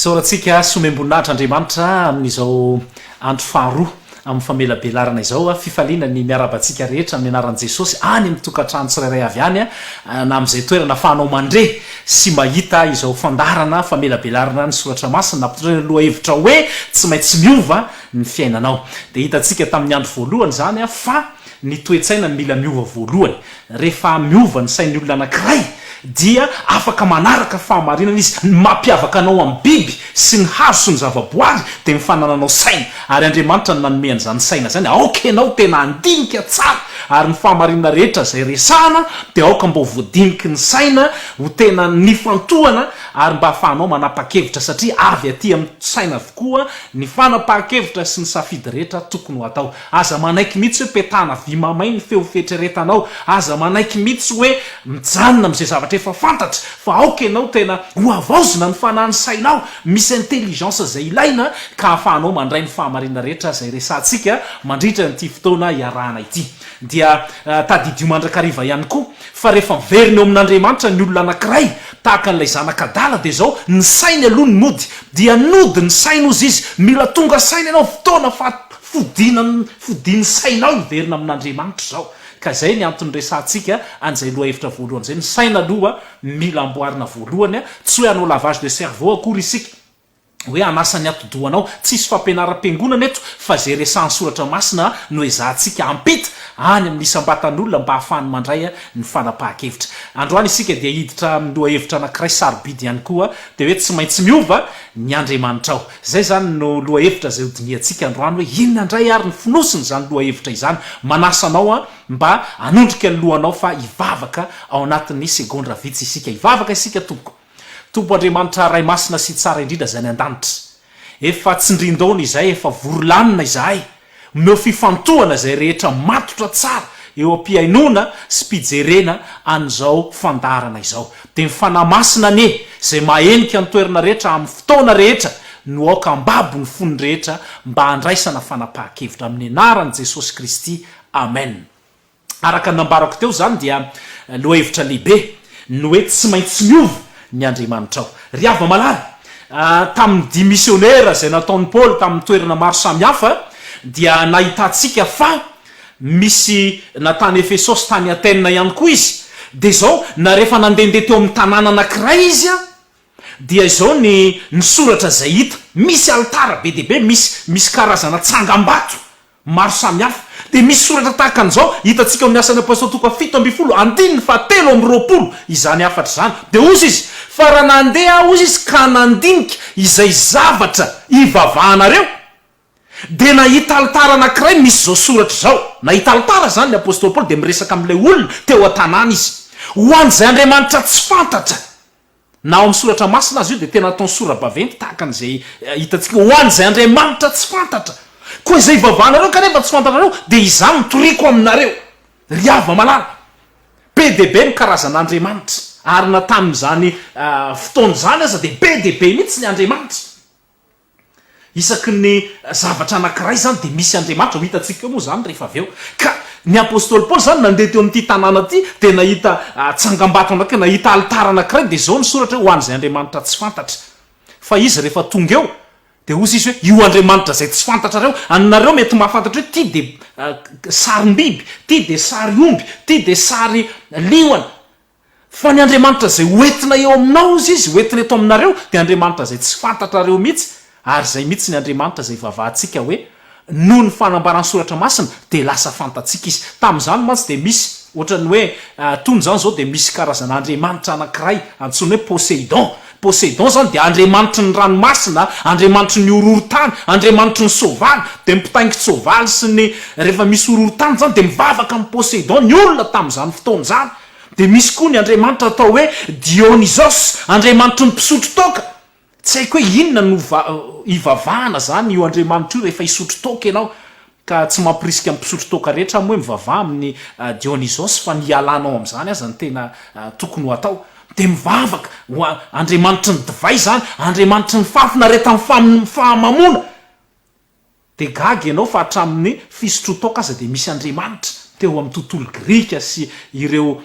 Isaorantsika sy omem-boninahitra Andriamanitra amin'izao andro faharoa amin'ny famelabelarana izao. Fifaliana ny miarahaba antsika rehetra amin'ny anaran'i Jesosy any amin'ny tokantrano tsirairay avy any na amin'izay toerana afahanao mandre. sy mahita izao fandaharana famelabelarana ny soratra masina nampitondra ny lohahevitra hoe tsy maintsy miova ny fiainanao. Dia hitantsika tamin'ny andro voalohany izany fa ny toe-tsaina no mila miova voalohany. Rehefa miova ny sain'ny olona anankiray dia afaka manaraka fahamarinana izy. Ny mampiavaka anao amin'ny biby sy ny hazo sy ny zava-boary dia ny fanananao saina, ary Andriamanitra no nanome an'izany saina izany, aoka ianao tena handinika tsara, ary ny fahamarinana rehetra izay resahana dia aoka mba ho voadiniky ny saina ho tena nifantohana ary mba hahafahanao manapa-kevitra, satria avy aty amin'ny saina avokoa ny fanapahan-kevitra sy ny safidy rehetra tokony ho atao. Aza manaiky mihitsy hoe petahana vy mamay ny feo fieritreretanao. Aza manaiky mihitsy hoe mijanona amin'izay zavatra efa fantatra, fa aoka ianao tena hohavaozina ny fanahin'ny sainao. Misy intelligence izay ilaina ka ahafahanao mandray ny fahamarinana rehetra izay resahantsika mandritra an'ity fotoana iarahana ity. Dia tadidio mandrakariva ihany koa fa rehefa miverina eo amin'Andriamanitra ny olona anankiray, tahaka an'ilay zanaka adala, dia izao, ny sainy aloha no nody. Dia nody ny sainy hozy izy. Mila tonga saina ianao fotoana faha. Fodiana ny fodian'ny sainao hiverina amin'Andriamanitra izao. Ka izay ny antony resahantsika an'izay lohahevitra voalohany izay. Ny saina aloha mila amboarina voalohany. Tsy hoe hanao lavage de cerveau akory isika, hoe hanasa ny atidohanao. Tsisy fampianaram-piangonana eto fa izay resahan'ny soratra masina no ezahantsika hampita any amin'ny isam-batan'olona mba hahafahany mandray ny fanapahan-kevitra. Androany isika dia hiditra amin'ny lohahevitra anankiray sarobidy ihany koa dia hoe tsy maintsy miova ny Andriamanitrao. Izay izany no lohahevitra izay hodinihantsika androany hoe inona indray ary ny fonosin'izany lohahevitra izany. Manasa anao aho mba hanondrika ny lohanao fa hivavaka ao anatin'ny segondra vitsy isika. Hivavaka isika tompoko. Tompo Andriamanitra Ray Masina sy Tsara indrindra izay any an-danitra. Efa tsindrin-daona izay, efa vory lanona izahay. Omeo fifantohana izay rehetra matotra tsara eo am-pihainoana sy mpijerena an'izao fandaharana izao. Dia ny Fanahy Masina anie izay mahenika ny toerana rehetra amin'ny fotoana rehetra no aoka hambabo ny fon'ny rehetra mba handraisana fanapahan-kevitra. Amin'ny anaran'i Jesosy Kristy, Amen. Araka ny nambarako teo izany dia lohahevitra lehibe ny hoe tsy maintsy miova ny andriamanitrao. Ry hava-malala, tamin'ny dia misionera izay nataon'i Paoly tamin'ny toerana maro samihafa dia nahitantsika fa misy na tany Efesosy tany Atèna ihany koa izy dia izao na rehefa nandehandeha teo amin'ny tanàna anankiray izy dia izao ny ny soratra izay hita misy alitara be dia be misy misy karazana tsangambato maro samihafa. Dia misy soratra tahaka an'izao hitantsika ao amin'ny Asan'ny Apostoly toko faha fito ambin'ny folo andininy faha telo amby roapolo izany hafatra izany. Dia hozy izy, Fa raha nandeha aho hozy izy ka nandinika izay zavatra hivavahanareo, dia nahita alitara anankiray misy izao soratra izao. Nahita alitara izany ny Apostoly Paoly dia miresaka amin'ilay olona teo an-tanàna izy. Ho an'izay andriamanitra tsy fantatra Na ao amin'ny Soratra Masina aza io dia tena ataony sora-baventy tahaka an'izay hitantsika ho an'izay Andriamanitra tsy fantatra. Koa izay ivavahanareo kanefa tsy fantanareo dia izaho no toriako aminareo, ry hava-malala. Be dia be ny karazan'Andriamanitra, ary na tamin'izany fotoana izany aza dia be dia be mihitsy ny Andriamanitra. Isaky ny zavatra anankiray izany dia misy Andriamanitra, ho hitantsika eo moa izany rehefa avy eo. Ka ny apostoly Paoly izany nandeha teo amin'ity tanàna ity dia nahita tsangambato anankiray, nahita alitara anankiray dia izao ny soratra hoe ho an'izay andriamanitra tsy fantatra. Fa izy rehefa tonga eo dia hozy izy hoe io andriamanitra izay tsy fantatrareo, anareo mety mahafantatra hoe ity dia sarim-biby, ity dia sary omby, ity dia sary liona, Fa ny Andriamanitra izay hoentina eo aminao hozy izy hoentina eto aminareo dia Andriamanitra izay tsy fantatrareo mihitsy ary izay mihitsy ny Andriamanitra izay ivavahantsika hoe noho ny fanambaran'ny soratra masina dia lasa fantatsika izy tamin'izany mantsy dia misy ohatran'ny hoe tony izany izao dia misy karazana Andriamanitra anankiray antsoiny hoe Poseidon Poseidon izany dia andriamanitry ny ranomasina, andriamanitry ny horohorontany, andriamanitry ny soavaly, dia ny mpitaingin-tsoavaly sy ny rehefa misy horohorontany izany dia mivavaka amin'i Poseidon ny olona tamin'izany fotoana izany. Dia misy koa ny andriamanitra atao hoe Dionysos, andriamanitry ny mpisotro toaka. Tsy haiko hoe inona no ivavahana izany io andriamanitra io rehefa hisotro toaka ianao. Ka tsy mampirisika ny mpisotro toaka rehetra amin'ny hoe mivavaha amin'i Dionysos fa ny hialana ao amin'izany aza no tena tokony ho atao. Dia mivavaka ho andriamanitry ny divay izany, andriamanitry ny fahafinaretan'ny fahamamoana. Dia gaga ianao fa hatramin'ny fisotroan-toaka aza dia misy andriamanitra teo amin'ny tontolo grika sy ireo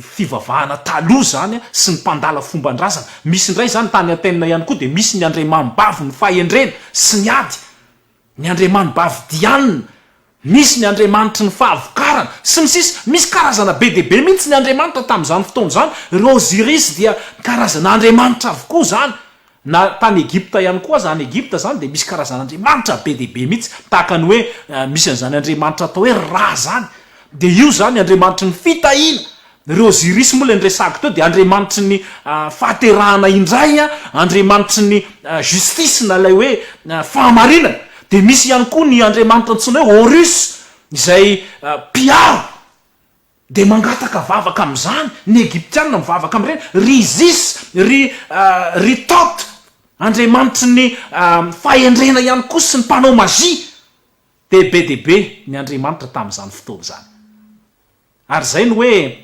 fivavahana taloha izany sy ny mpandala fomban-drazana. Misy indray izany tany Athènes ihany koa dia misy ny andriamani-bavin'ny fahendrena sy ny ady. ny andriamanibavy Diana, misy ny andriamanitry ny fahavokarana, sy ny sisa Misy karazana be dia be mihitsy ny andriamanitra tamin'izany fotoana izany, ry Osiris dia karazana andriamanitra avokoa izany, na tany Egypta ihany koa aza, any Egypta izany dia misy karazana andriamanitra be dia be mihitsy, tahaka ny hoe misy an'izany andriamanitra atao hoe Ra izany, dia io izany andriamanitry ny fitahiana, Ireo Osiris moa ilay niresahako teo dia andriamanitry ny fahaterahana indray, andriamanitry ny justice na ilay hoe fahamarinana. Dia misy ihany koa ny andriamanitra antsoina hoe Horus izay mpiaro dia mangataka vavaka amin'izany. Ny Egyptiana mivavaka amin'ireny. Ry Isis, ry ry Thot, andriamanitry ny fahendrena ihany koa sy ny mpanao magie. Dia be dia be ny andriamanitra tamin'izany fotoana izany. Ary izay no hoe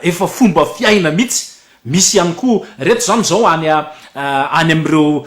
efa fomba fiaina mihitsy. Misy ihany koa, ireto izany izao any any amin'ireo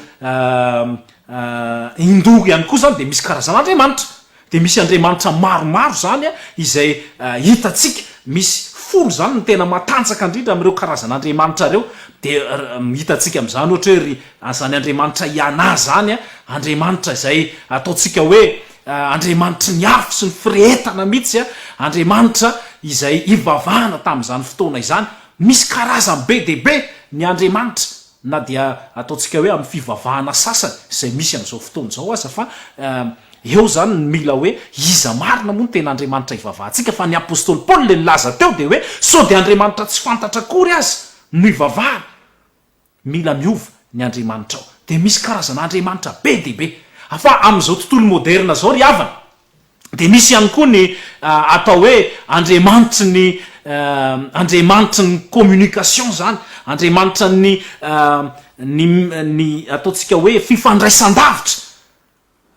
Hindoa ihany koa izany dia misy karazan'andriamanitra. Dia misy andriamanitra maromaro izany izay hitantsika, misy folo izany ny tena matanjaka indrindra amin'ireo karazan'andriamanitra ireo. Dia hitantsika amin'izany ohatra hoe ry an'izany andriamanitra Iana izany, andriamanitra izay ataontsika hoe Andriamanitry ny afo sy ny firehetana mihitsy, Andriamanitra izay ivavahana tamin'izany fotoana izany. Misy karazany be dia be ny andriamanitra, na dia ataontsika hoe amin'ny fivavahana sasany izay misy amin'izao fotoana izao aza, fa eo izany ny mila hoe iza marina moa no tena Andriamanitra ivavahantsika, fa ny apostoly Paoly ilay nilaza teo dia hoe sao dia andriamanitra tsy fantatra akory aza no ivavahana. Mila miova ny andriamanitrao. Dia misy karazana andriamanitra be dia be. Fa amin'izao tontolo moderna izao ry havana, dia misy ihany koa ny atao hoe andriamanitry ny andriamanitry ny communication izany, andriamanitra ny ny ny ataontsika hoe fifandraisan-davitra.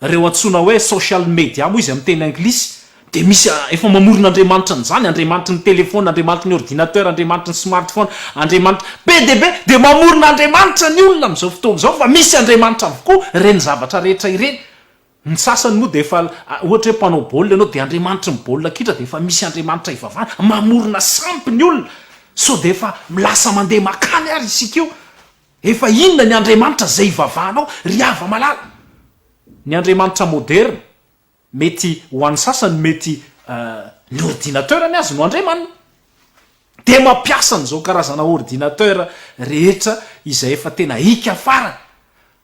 Ireo antsoina hoe social media moa izy amin'ny teny anglisy dia misy efa mamorona andriamanitry ny zany, andriamanitry ny telephone, andriamanitry ny ordinateur, andriamanitry ny smartphone, andriamanitry, be dia be dia mamorona andriamanitra ny olona amin'izao fotoana izao fa misy andriamanitra avokoa ireny zavatra rehetra ireny. Ny sasany moa dia efa ohatra hoe mpanao baolina ianao dia andriamanitry ny baolina kitra dia efa misy andriamanitra ivavahana, mamorona sampy ny olona sao dia efa lasa mandeha makany ary isika io. Efa inona ny Andriamanitra izay ivavahanao ry hava-malala? Ny Andriamanitra moderina, mety ho an'ny sasany mety ny ordinateur ny azy no Andriamaniny. Dia mampiasa an'izao karazana ordinateur rehetra izay efa tena ika farany.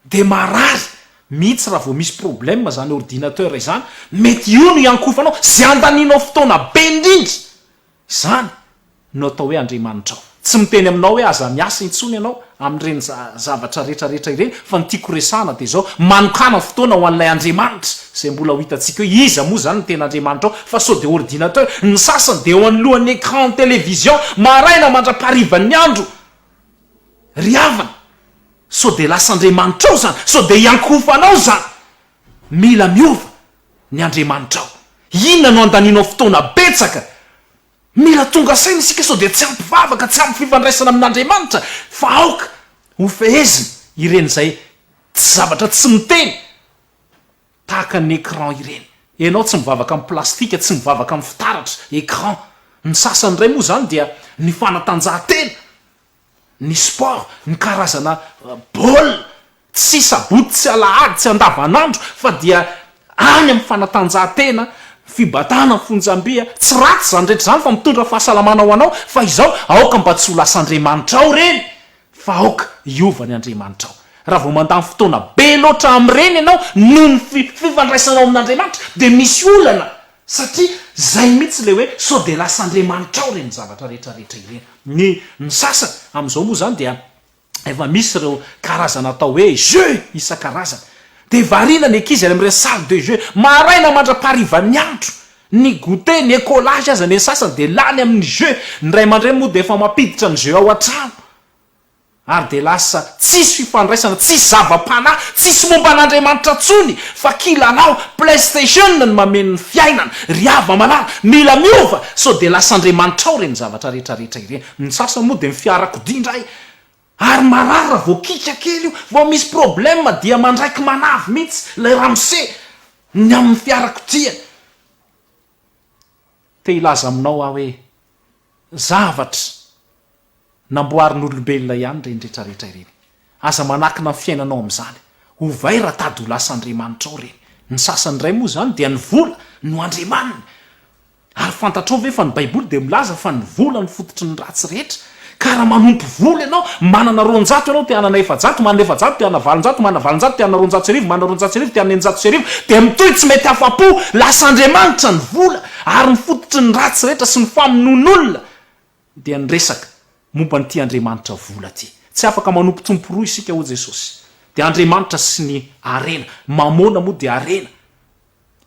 Dia marary mihitsy raha vao misy problème izany ordinateur izany, mety io no iankofanao, izay andanianao fotoana be indrindra Izany no atao hoe Andriamanitrao. Tsy miteny aminao hoe aza miasa intsony ianao amin'ireny zavatra rehetrarehetra ireny fa ny tiako horesahana dia izao, manokàna fotoana ho an'ilay Andriamanitra izay mbola ho hitantsika hoe iza moa izany no tena Andriamanitrao fa sao dia ordinateur, ny sasany dia eo anoloan'ny écran télévision maraina mandra-paharivan'ny andro ry havana, sao dia lasa Andriamanitrao izany, sao dia iankohofanao izany, mila miova. ny Andriamanitrao. Inona no andanianao fotoana betsaka? Mila tonga saina isika sao dia tsy ampy vavaka, tsy ampy fifandraisana amin'Andriamanitra, fa aoka hofehezina ireny izay tsy zavatra tsy miteny tahaka ny écran ireny. Ianao tsy mivavaka amin'ny plastika, tsy mivavaka amin'ny fitaratra, écran. Ny sasany indray moa izany dia ny fanatanjahantena. ny sport, ny karazana baolina, tsy sabotsy sy alahady, tsy andavanandro fa dia any amin'ny fanatanjahantena, fibatana ny fonjamby, tsy ratsy izany rehetra izany fa mitondra fahasalamana ho anao fa izao aoka mba tsy ho lasa andriamanitra ao ireny fa aoka hiova ny andriamanitra ao. Raha vao mandany fotoana be loatra amin'ireny ianao noho ny fifandraisanao amin'Andriamanitra dia misy olana Satria zay mihitsy le hoe sao dia lasan'driamanitra ao ireny zavatra rehetra rehetra ireny. Ny ny sasany amin'izao moa izany dia efa misy ireo karazana atao hoe jeux isan-karazany. Dia variana ny ankizy any amin'ireny salle de jeux maraina mandra-paharivan'ny andro. Ny goûter, ny écolage aza ny an'ny sasany dia lany amin'ny jeux. Ny ray aman-dreny moa dia efa mampiditra ny jeux ao an-trano. Ary dia lasa tsisy fifandraisana, tsisy zava-panahy, tsisy momba an'Andriamanitra intsony fa kilalao, playstation no mameno ny fiainana. Ry hava-malala, mila miova sao dia lasa andriamanitrao ireny zavatra rehetra rehetra ireny. Ny sasany moa dia ny fiarakodia indray ary marary raha vao kiaka kely io, vao misy problème dia mandraiky manavy mihitsy ilay ramose ny amin'ny fiarakodia. Te hilaza aminao aho hoe zavatra. Namboarin'olombelona ihany ireny rehetra rehetra ireny. Aza manakina ny fiainanao amin'izany. Ovay raha tady ho lasa andriamanitrao ireny. Ny sasany indray moa izany dia ny vola no andriamaniny. Ary fantatrao ve fa ny baiboly dia milaza fa ny vola no fototry ny ratsy rehetra. Ka raha manompo vola ianao, manana roanjato ianao te hanana efajato, manana efajato te hanana valonjato, manana valonjato te hanana roanjato sy arivo, manana roanjato sy arivo te hanana eninjato sy arivo, dia mitohy tsy mety afa-po. Lasa andriamanitra ny vola ary ny fototry ny ratsy rehetra sy ny famonoan'olona. dia niresaka momba an'ity Andriamanitra vola ity. Tsy afaka manompo tompo roa isika hoy Jesosy. Dia Andriamanitra sy ny harena. Mamôna moa dia harena.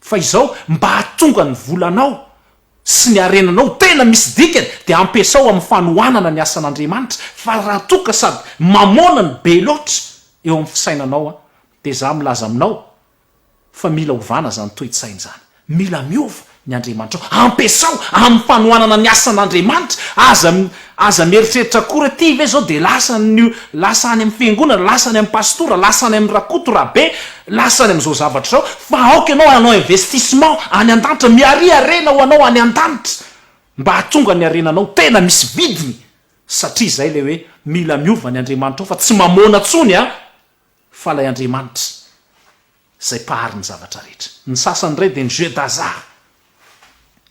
Fa izao, mba hahatonga ny volanao sy ny harenanao ho tena misy dikany dia ampiasao amin'ny fanohanana ny asan'Andriamanitra. Fa raha toa ka sady mamôna no be loatra eo amin'ny fisainanao dia izaho milaza aminao Fa mila ovana izany toe-tsaina izany. Mila miova ny Andriamanitrao. Ampiasao amin'ny fanohanana ny asan'Andriamanitra. Aza aza mieritreritra akory hoe ty ve izao dia lasa ny lasa any amin'ny fiangonana, lasa any amin'ny pastora, lasa any amin'i Rakoto, Rabe, lasa any amin'izao zavatra izao. Fa aoka ianao hanao investissement any an-danitra. Miaria harena ho anao any an-danitra mba hahatonga ny harenanao tena misy vidiny. Satria izay ilay hoe mila miova ny Andriamanitrao fa tsy mamoana intsony an! Fa ilay Andriamanitra izay Mpahary ny zavatra rehetra. Ny sasany indray dia ny jeux d'hasard.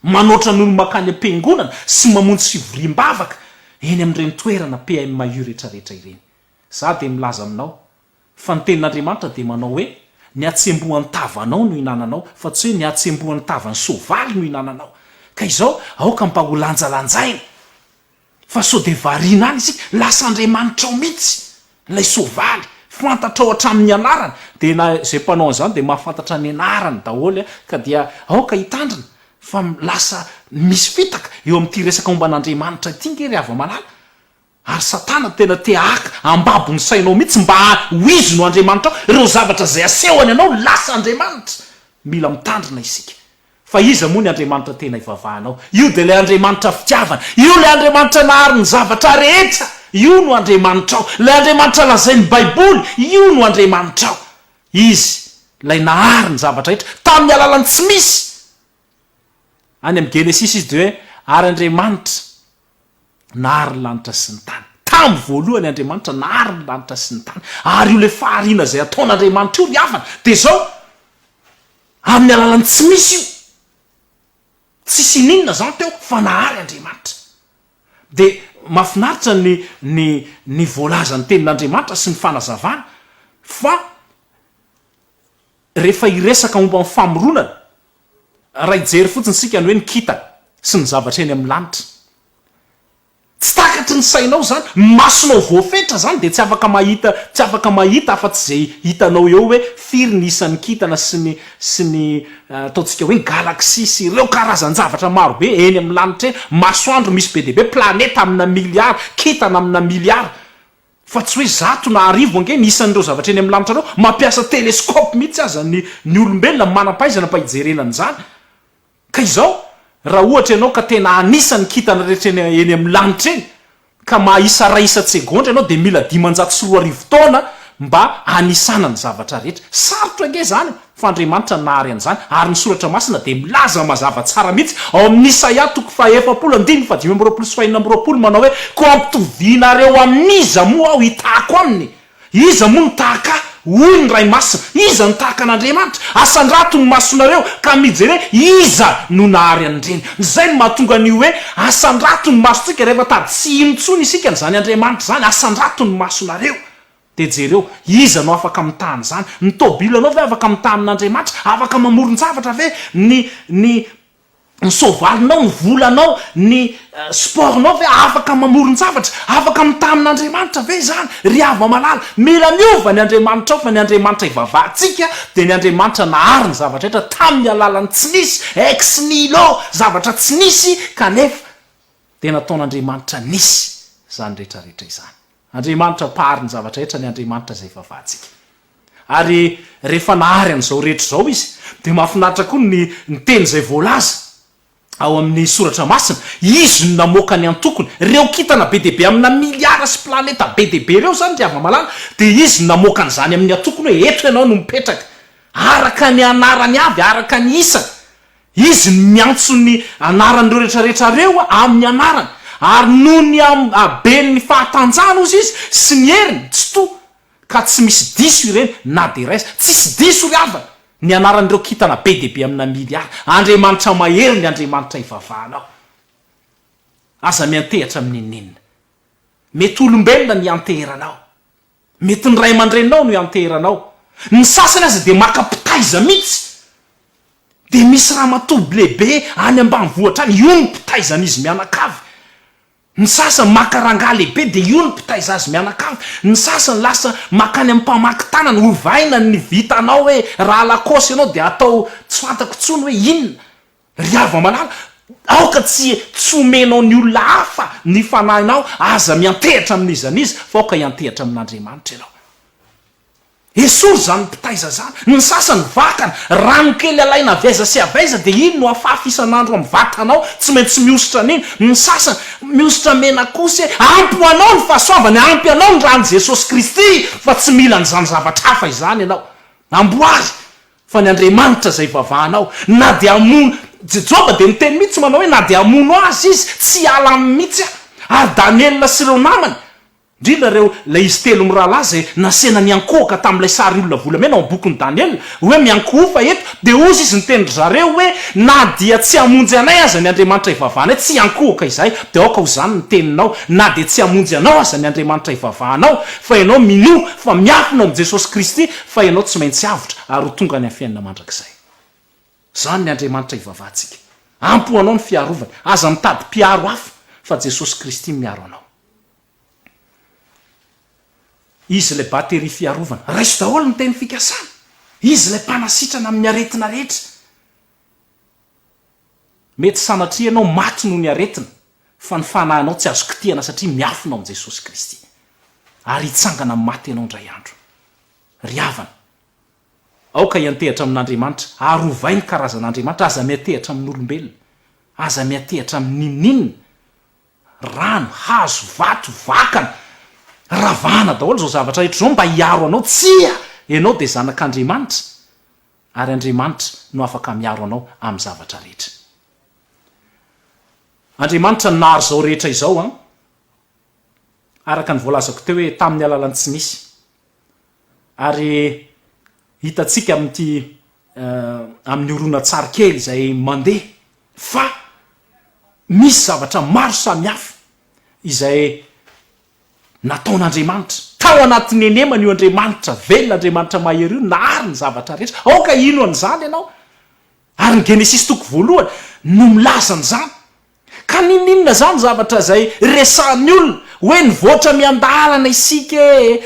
Manoatra ny olo-mankany am-piangonana sy mamonjy fivoriam-bavaka eny amin'ireny toerana PMU rehetrarehetra ireny. Izaho dia milaza aminao fa ny Tenin'Andriamanitra dia manao hoe, Ny hatsembohan'ny tavanao no ihinananao, fa tsy hoe ny hatsembohan'ny tavan'ny soavaly no ihinananao. Ka izao, aoka mba holanjalanjaina! Fa sao dia variana any isika, lasa andriamanitrao mihitsy ilay soavaly, fantatrao hatramin'ny anarany, dia na izay mpanao an'izany dia mahafantatra ny anarany daholo ka dia aoka hitandrina fa lasa misy fitaka eo amin'ity resaka momba an'Andriamanitra ity nge ry hava-malala, ary satana tena te haka ambabo ny sainao mihitsy mba ho izy no andriamanitrao, ireo zavatra izay asehony anao lasa andriamanitra, mila mitandrina isika. Fa iza moa ny Andriamanitra tena ivavahanao? Io dia ilay Andriamanitra fitiavana. Io ilay Andriamanitra nahary ny zavatra rehetra. Io no Andriamanitrao. Ilay Andriamanitra lazain'ny Baiboly, io no Andriamanitrao. Izy ilay nahary ny zavatra rehetra, tamin'ny alalan'ny tsy misy. Any amin'ny Genesisy izy dia hoe, Ary Andriamanitra. Nahary ny lanitra sy ny tany. Tamin'ny voalohany Andriamanitra nahary ny lanitra sy ny tany. Ary io ilay fahariana izay ataon'Andriamanitra io ny havana. Dia izao, amin'ny alalan'ny tsy misy io. Tsisy ininona izany teo fa nahary Andriamanitra. Dia mahafinaritra ny ny ny voalazan'ny tenin'Andriamanitra sy ny fanazavana fa. Rehefa hiresaka momba ny famoronana, raha hijery fotsiny isika ny hoe ny kintana sy ny zavatra eny amin'ny lanitra, tsy takatry ny sainao izany, ny masonao voafetra izany dia tsy afaka mahita tsy afaka mahita afa-tsy izay hitanao eo hoe firy ny isan'ny kintana sy ny sy ny ataontsika hoe ny galaxie sy ireo karazan-javatra maro be eny amin'ny lanitra eny, masoandro misy be dia be, planeta amina miliara, kintana amina miliara, Fa tsy hoe zato na arivo ange ny isan'ireo zavatra eny amin'ny lanitra anao, mampiasa telescope mihitsy aza ny ny olombelona manam-pahaizana mba hijerena an'izany. Ka izao, raha ohatra ianao ka tena hanisa ny kintana rehetra eny eny amin'ny lanitra eny, ka mahaisa iray isan-tsegondra ianao dia mila dimanjato sy roa arivo taona mba hanisana ny zavatra rehetra. Sarotra ange izany e! Fa Andriamanitra no nahary an'izany, ary ny Soratra Masina dia milaza mazava tsara mihitsy ao amin'ny Isaia toko fahaefapolo andininy fahadimy amby roapolo sy fahenina amby roapolo manao hoe, Koa ampitovianareo amin'iza moa aho hitahako aminy? Iza moa no tahaka ahy? hoy ny Ray Masina. Iza no tahaka an'Andriamanitra? Asandrato ny masonareo ka mijere iza no nahary an'ireny. Izay no mahatonga ny hoe asandrato ny masontsika, rehefa tady tsy hino intsony isika an'izany Andriamanitra izany, asandrato ny masonareo. Dia jereo, iza no afaka mitaha an'izany? Ny tôbilanao ve afaka mitaha amin'Andriamanitra? Afaka mamoron-javatra ve? Ny, ny, ny soavalinao, ny volanao, ny sport-nao ve afaka mamoron-javatra? Afaka mitaha amin'Andriamanitra ve izany? Ry havana malala, mila miova ny Andriamanitrao, fa ny Andriamanitra ivavahantsika dia ny Andriamanitra nahary ny zavatra rehetra tamin'ny alalan'ny tsy nisy, ex nihilo, zavatra tsy nisy, kanefa dia nataon'Andriamanitra nisy izany rehetra rehetra izany. Andriamanitra mpahary ny zavatra rehetra ny Andriamanitra izay ivavahantsika. Ary rehefa nahary an'izao rehetra izao Izy, dia mahafinaritra koa ny ny teny izay voalaza ao amin'ny Soratra Masina, Izy no namoaka ny antokony, ireo kintana be dia be amina miliara sy planeta be dia be ireo izany ry hava-malala, dia Izy no namoaka an'izany amin'ny antokony hoe eto ianao no mipetraka, araka ny anarany avy, araka ny isany. Izy no miantso ny anaran'ireo rehetrarehetra reo amin'ny anarany, ary noho ny haben'ny fahatanjahany ozy izy sy ny heriny tsy to ka tsy misy diso ireny na dia iray aza. Tsisy diso ry havana ny anaran'ireo kintana be dia be amina miliara. Andriamanitra mahery ny Andriamanitra ivavahanao. Aza miantehatra amin'ny inona inona. Mety olombelona ny ianteheranao. Mety ny ray aman-dreninao no ianteheranao. Ny sasany aza dia maka mpitaiza mihitsy. Dia misy ramatoa lehibe any ambanivohitra any, io no mpitaizan'izy mianakavy. Ny sasany maka rangahy lehibe dia io no mpitaiza azy mianakavy. Ny sasany lasa makany amin'ny mpamaky tanana, ovaina ny vitanao hoe raha lakôsy ianao dia atao tsy fantako intsony hoe inona. Ry hava-malala, aoka tsy tsy homenao ny olona hafa ny fanahinao, aza miantehatra amin'iza n'iza, fa aoka hiantehatra amin'Andriamanitra ianao. Esory izany mpitaiza izany. Ny sasany vakana, rano kely alaina avy aiza sy avy aiza dia iny no afafy isan'andro amin'ny vatanao, tsy maintsy mihosotra an'iny. Ny sasany, mihosotra mena kosa e! Ampy ho anao ny fahasoavana, ampy anao ny ran'i Jesosy Kristy, fa tsy mila an'izany zavatra hafa izany ianao. Amboary! Fa ny Andriamanitra izay ivavahanao, na dia hamono, Joba dia niteny mihitsy manao hoe na dia hamono azy izy, tsy hiala aminy mihitsy aho. Ary Daniela sy ireo namany, indrindra ireo, ilay izy telo mirahalahy izay nasehina niankohoka tamin'ilay sary olona volamena ao amin'ny bokin'i Daniela, hoe miankohofa eto, dia hozy izy niteny ry zareo hoe, na dia tsy hamonjy anay aza ny Andriamanitra ivavahanay, tsy hiankohoka izahay, dia aoka ho izany ny teninao, na dia tsy hamonjy anao aza ny Andriamanitra ivavahanao, fa ianao minoa fa miafina ao amin'i Jesosy Kristy, Fa ianao tsy maintsy avotra ary ho tonga any am'fiainana mandrakizay. Zany ny Andriamanitra ivavahantsika. Ampy ho anao ny fiarovany. Aza mitady mpiaro hafa fa Jesosy Kristy no miaro anao. Izy ilay bateria fiarovana. Raiso daholo ny teny fikasana. Izy ilay mpanasitrana amin'ny aretina rehetra. Mety sanatria ianao maty noho ny aretina, fa ny fanahinao tsy azo kitihana satria miafina ao amin'i Jesosy Kristy. Ary hitsangana amin'ny maty ianao indray andro. Ry havana, aoka hiantehatra amin'Andriamanitra, ary ovay ny karazan'Andriamanitra, aza miantehatra amin'olombelona. Aza miantehatra amin'ny n'inon'inona. Rano, hazo, vato, vakana, ravahana daholo izao zavatra rehetra izao mba hiaro anao. Tsia! Ianao dia zanak'Andriamanitra. Ary Andriamanitra no afaka miaro anao amin'ny zavatra rehetra. Andriamanitra no nahary izao rehetra izao an! Araka ny voalazako teo hoe tamin'ny alalan'ny tsy misy. Ary hitantsika amin'ity amin'ny horonantsary kely izay mandeha fa misy zavatra maro samihafa izay nataon'Andriamanitra. Tao anatin'ny henemana io Andriamanitra velona, Andriamanitra mahery io nahary ny zavatra rehetra. Aoka hino an'izany ianao. Ary ny Genesisy toko voalohany no milaza an'izany. Ka ninoninona izany zavatra izay resahan'ny olona hoe nivoatra miandalana isika e!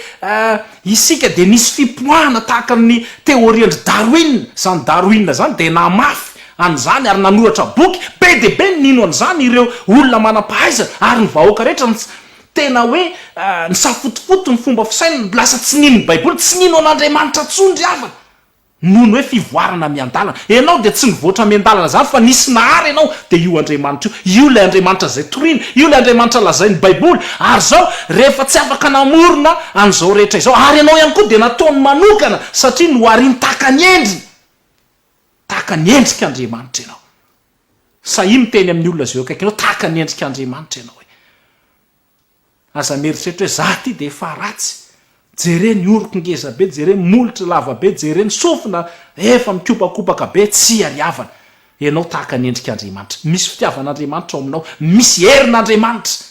isika dia nisy fipoahana tahaka ny teôrian-dry Darwin. Izany Darwin izany dia namafy an'izany ary nanoratra boky be dia be ny nino an'izany ireo olona manam-pahaizana ary ny vahoaka rehetra ny tsy tena hoe nisafotofoto ny fomba fisainany lasa tsy nino ny baiboly tsy nino an'Andriamanitra intsony ry havana noho ny hoe fivoarana miandalana ianao dia tsy nivoatra miandalana izany fa nisy nahary ianao dia io Andriamanitra io io ilay Andriamanitra izay torina io ilay Andriamanitra lazain'ny baiboly ary izao rehefa tsy afaka namorona an'izao rehetra izao ary ianao ihany koa dia nataony manokana satria noharin-takany endriny Tahaka ny endrik' Andriamanitra ianao. Sahia miteny amin'ny olona izay eo akaikinao, tahaka ny endrik' Andriamanitra ianao e. Aza mieritreritra hoe za ity dia efa ratsy, jere ny oroko ngeza be, jere ny molotro lava be, jere ny sofina efa mikopakopaka be, tsy iariavana. Ianao tahaka ny endrik' Andriamanitra. Misy fitiavan' Andriamanitra ao aminao, misy herin' Andriamanitra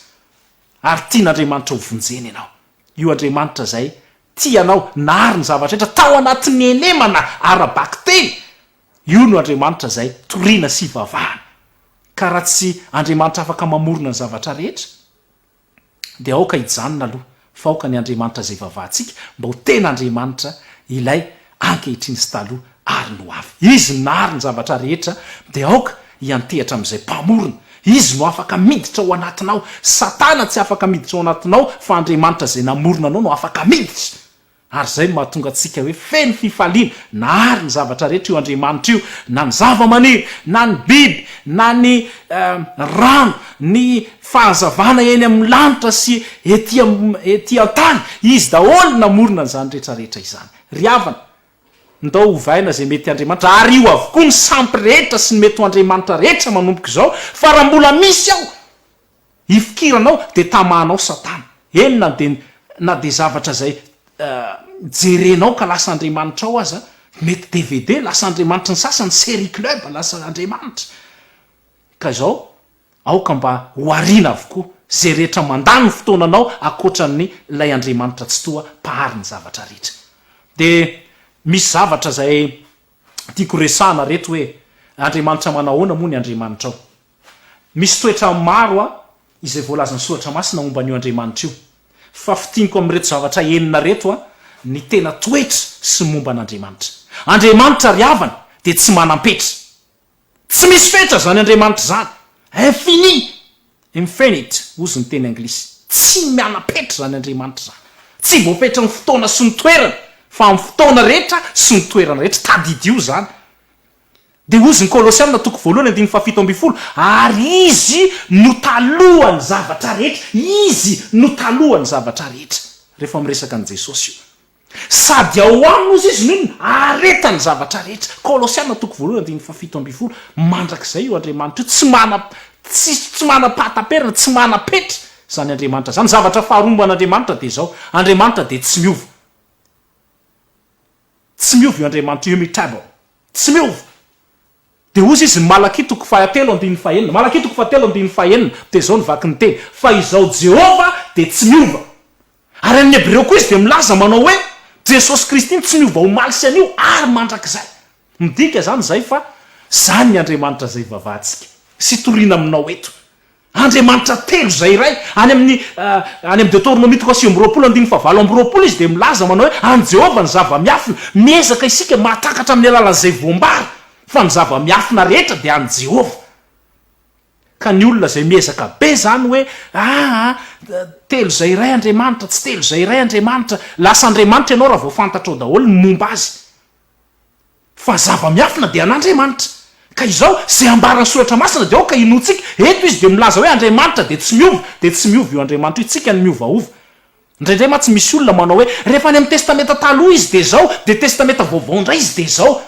ary tian' Andriamanitra ho vonjena ianao. Io Andriamanitra izay tia anao, nahary ny zavatra rehetra tao anatin'ny henemana ara-bakiteny, io no Andriamanitra izay toriana sy ivavahana. Ka raha tsy Andriamanitra afaka mamorona ny zavatra rehetra, dia aoka hijanona aloha, fa aoka ny Andriamanitra izay ivavahantsika mba ho tena Andriamanitra ilay ankehitriny sy taloha ary ny ho avy. Izy no nahary ny zavatra rehetra, dia aoka hiantehatra amin'izay Mpamorona. Izy no afaka miditra ao anatinao. Satana tsy afaka miditra ao anatinao, fa Andriamanitra izay namorona anao no afaka miditra. Ary izay no mahatonga antsika hoe feno fifaliana, nahary ny zavatra rehetra io Andriamanitra io, na ny zava-maniry, na ny biby, na ny rano, ny fahazavana eny amin'ny lanitra sy ety ety an-tany. Izy daholo no namorona an'izany rehetra rehetra izany. Ry havana, ndao ovaina izay mety Andriamanitra, ary io avokoa ny sampy rehetra sy ny mety ho Andriamanitra rehetra manomboka izao, fa raha mbola misy ao ifikiranao dia tamahanao satana, eny na dia na dia zavatra izay jerenao ka lasa Andriamanitrao aza, mety dvd, lasa Andriamanitry ny sasany, serie club, lasa Andriamanitra ka izao, Aoka mba ho ariana avokoa izay rehetra mandany ny fotoananao ankoatra ny Ilay Andriamanitra Tsitoha Mpahary ny zavatra rehetra. Dia misy zavatra izay tiako resahana reto hoe Andriamanitra manahoana moa ny Andriamanitrao? Misy toetra maro a izay voalazan'ny Soratra Masina momba an'io Andriamanitra io. Fa fintiniko amin'ireto zavatra enina reto a ny tena toetra sy momba an'Andriamanitra. Andriamanitra ry havana dia tsy manam-petra. Tsy misy fetra izany Andriamanitra izany. Infini, infinite, hozy ny teny anglisy. Tsy miana-petra izany Andriamanitra izany. Tsy voafetran'ny fotoana sy ny toerana, fa amin'ny fotoana rehetra sy ny toerana rehetra. Tadidio izany. Dia hozy ny Kolosiana toko voalohany andininy fahafito ambin'ny folo, Ary Izy no talohan'ny zavatra rehetra. Izy no talohan'ny zavatra rehetra. Rehefa miresaka an'i Jesosy io. Sady ao aminy ozy izy no ahareta ny zavatra rehetra. Kolosiana toko voalohany andininy fahafito ambin'ny folo, Mandrakizay io Andriamanitra io, tsy mana, tsy, tsy manam-pahataperana, tsy manam-petra izany Andriamanitra izany. Zavatra faharoa momba an'Andriamanitra dia izao, Andriamanitra dia tsy miova. Tsy miova io Andriamanitra io, immutable. Tsy miova. Dia hozy izy ny Malakia toko fahatelo andininy fahenina, Malakia toko fahatelo andininy fahenina, dia izao ny vaky ny teny, Fa izao Jehovah dia tsy miova. Ary amin'ny Hebreo koa izy dia milaza manao hoe, Jesosy Kristy no tsy niova omaly sy anio ary mandrakizay. Midika izany izay fa izany ny Andriamanitra izay ivavahantsika sy itoriana aminao eto. Andriamanitra telo izay iray. Any amin'ny any amin'ny Deoteronomia toko sivy amby roapolo andininy fahavalo amby roapolo izy dia milaza manao hoe, An'i Jehovah ny zava-miafina. Miezaka isika mahatakatra amin'ny alalan'izay voambara fa ny zava-miafina rehetra dia an'i Jehovah. Ka ny olona izay miezaka be izany hoe aa telo izay iray Andriamanitra, tsy telo izay iray Andriamanitra, lasa Andriamanitra ianao raha vao fantatrao daholo ny momba azy. Fa zava-miafina dia an'Andriamanitra. Ka izao, izay ambaran'ny soratra masina dia aoka inoantsika, eto izy dia milaza hoe Andriamanitra dia tsy miova, dia tsy miova io Andriamanitra io, tsika no miovaova. Indraindray mantsy misy olona manao hoe rehefa any amin'ny testamenta taloha izy dia izao, dia testamenta vaovao indray izy dia izao.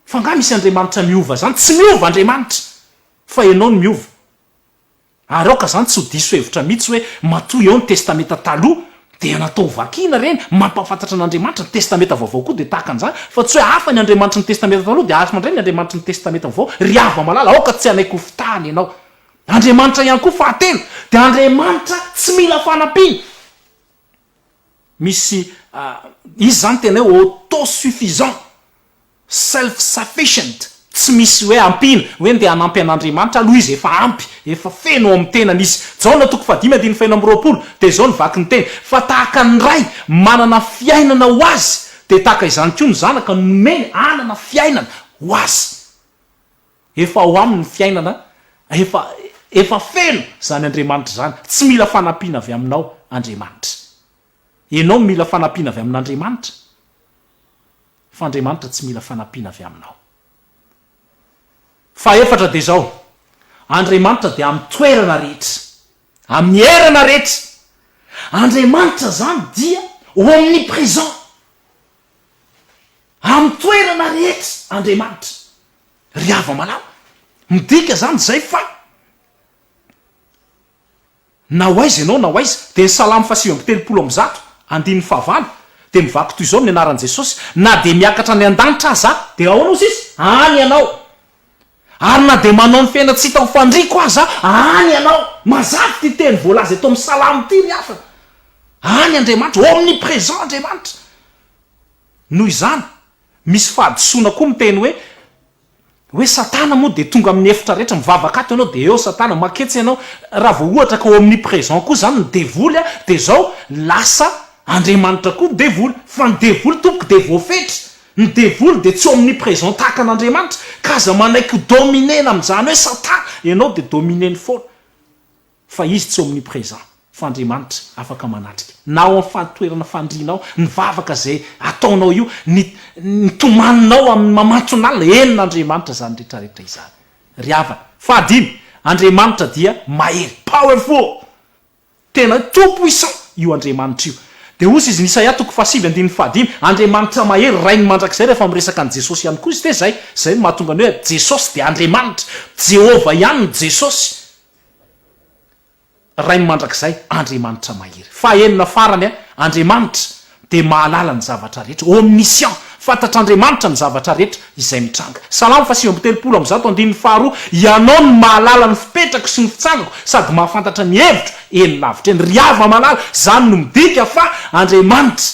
Fa angaha misy Andriamanitra miova izany? Tsy miova Andriamanitra. Fa ianao no miova. Ary aoka izany tsy ho diso hevitra mihitsy hoe matoa eo ny Testamenta Taloha dia natao ho vakina ireny, mampahafantatra an'Andriamanitra, ny Testamenta Vaovao koa dia tahaka an'izany, fa tsy hoe hafa ny Andriamanitry ny Testamenta Taloha dia hafa indray ny Andriamanitry ny Testamenta Vaovao. Ry havana malala, aoka tsy hanaiky ho fitahana ianao. Andriamanitra ihany koa, fahatelo, dia Andriamanitra tsy mila fanampiana. Misy izy zany tena hoe auto-suffisant, self sufficient, tsy misy hoe ampiana, hoe ndeha hanampy an'Andriamanitra aloha izy, efa ampy, efa feno ao amin'ny tenany izy. Jaona toko fahadimy andininy fahenina amby roapolo dia izao ny vaky ny teny, Fa tahaka ny Ray manana fiainana ho Azy, dia tahaka izany koa ny Zanaka nomeny hanana fiainana ho Azy. Efa ao aminy ny fiainana, efa efa feno izany Andriamanitra izany, tsy mila fanampiana avy aminao Andriamanitra. Ianao no mila fanampiana avy amin'Andriamanitra, fa Andriamanitra tsy mila fanampiana avy aminao. Fahefatra dia izao, Andriamanitra dia amin'ny toerana rehetra, amin'ny erana rehetra. Andriamanitra izany dia omnipresent, amin'ny toerana rehetra Andriamanitra. Ry hava-malala, midika zany zay fa na ho aiza ianao na ho aiza, dia ny Salamo fahasivy amby telopolo amby zato, andininy fahavalo, dia mivaky toy izao ny anaran'i Jesosy, Na dia miakatra any an-danitra aza aho, dia ahoana hozy izy? Any ianao. Ary na dia manao ny fiainana tsy hita ho fandriako aza aho, any ianao. Mazava ity teny voalaza eto amin'ny Salamo ity ry havana. Any Andriamanitra, omnipresent Andriamanitra. Noho izany. Misy fahadisoana koa miteny hoe, hoe satana moa dia tonga amin'ny efitra rehetra, mivavaka ato ianao dia eo satana, maketsy ianao, raha vao ohatra ka omnipresent koa izany ny devoly dia izao lasa Andriamanitra koa ny devoly, fa ny devoly tompoko dia voafetra, ny devoly dia tsy omnipresent tahaka an'Andriamanitra, ka aza manaiky ho dominer-na amin'izany hoe satana, ianao dia dominer-ny foana. Fa Izy tsy omnipresent, fa Andriamanitra afaka manatrika na ao amin'ny fahantoerana fandrianao, ny vavaka izay ataonao io, ny ny tomaninao amin'ny mamantson'alina, eny n'Andriamanitra izany retraretra izany ry havana. Fahadimy, Andriamanitra dia mahery, powerful, tena hoe tout puissant io Andriamanitra io. Dia hozy izy ny Isaia toko fahasivy andininy fahadimy, Andriamanitra mahery, Rain'ny mandrakizay, rehefa miresaka an'i Jesosy ihany koa izy dia izay, izay no mahatonga ny hoe Jesosy dia Andriamanitra, Jehovah ihany no Jesosy, Ray mandrakizay, Andriamanitra mahery. Fahenina farany, Andriamanitra dia mahalala ny zavatra rehetra, omniscient, fantatr'Andriamanitra ny zavatra rehetra izay mitranga. Salamo fahasivy amby telopolo amby zato andininy faharoa, Ianao no mahalala ny fipetrako sy ny fitsangako sady mahafantatra ny hevitro eny lavitra eny. Ry Yavah malala, izany no midika fa Andriamanitra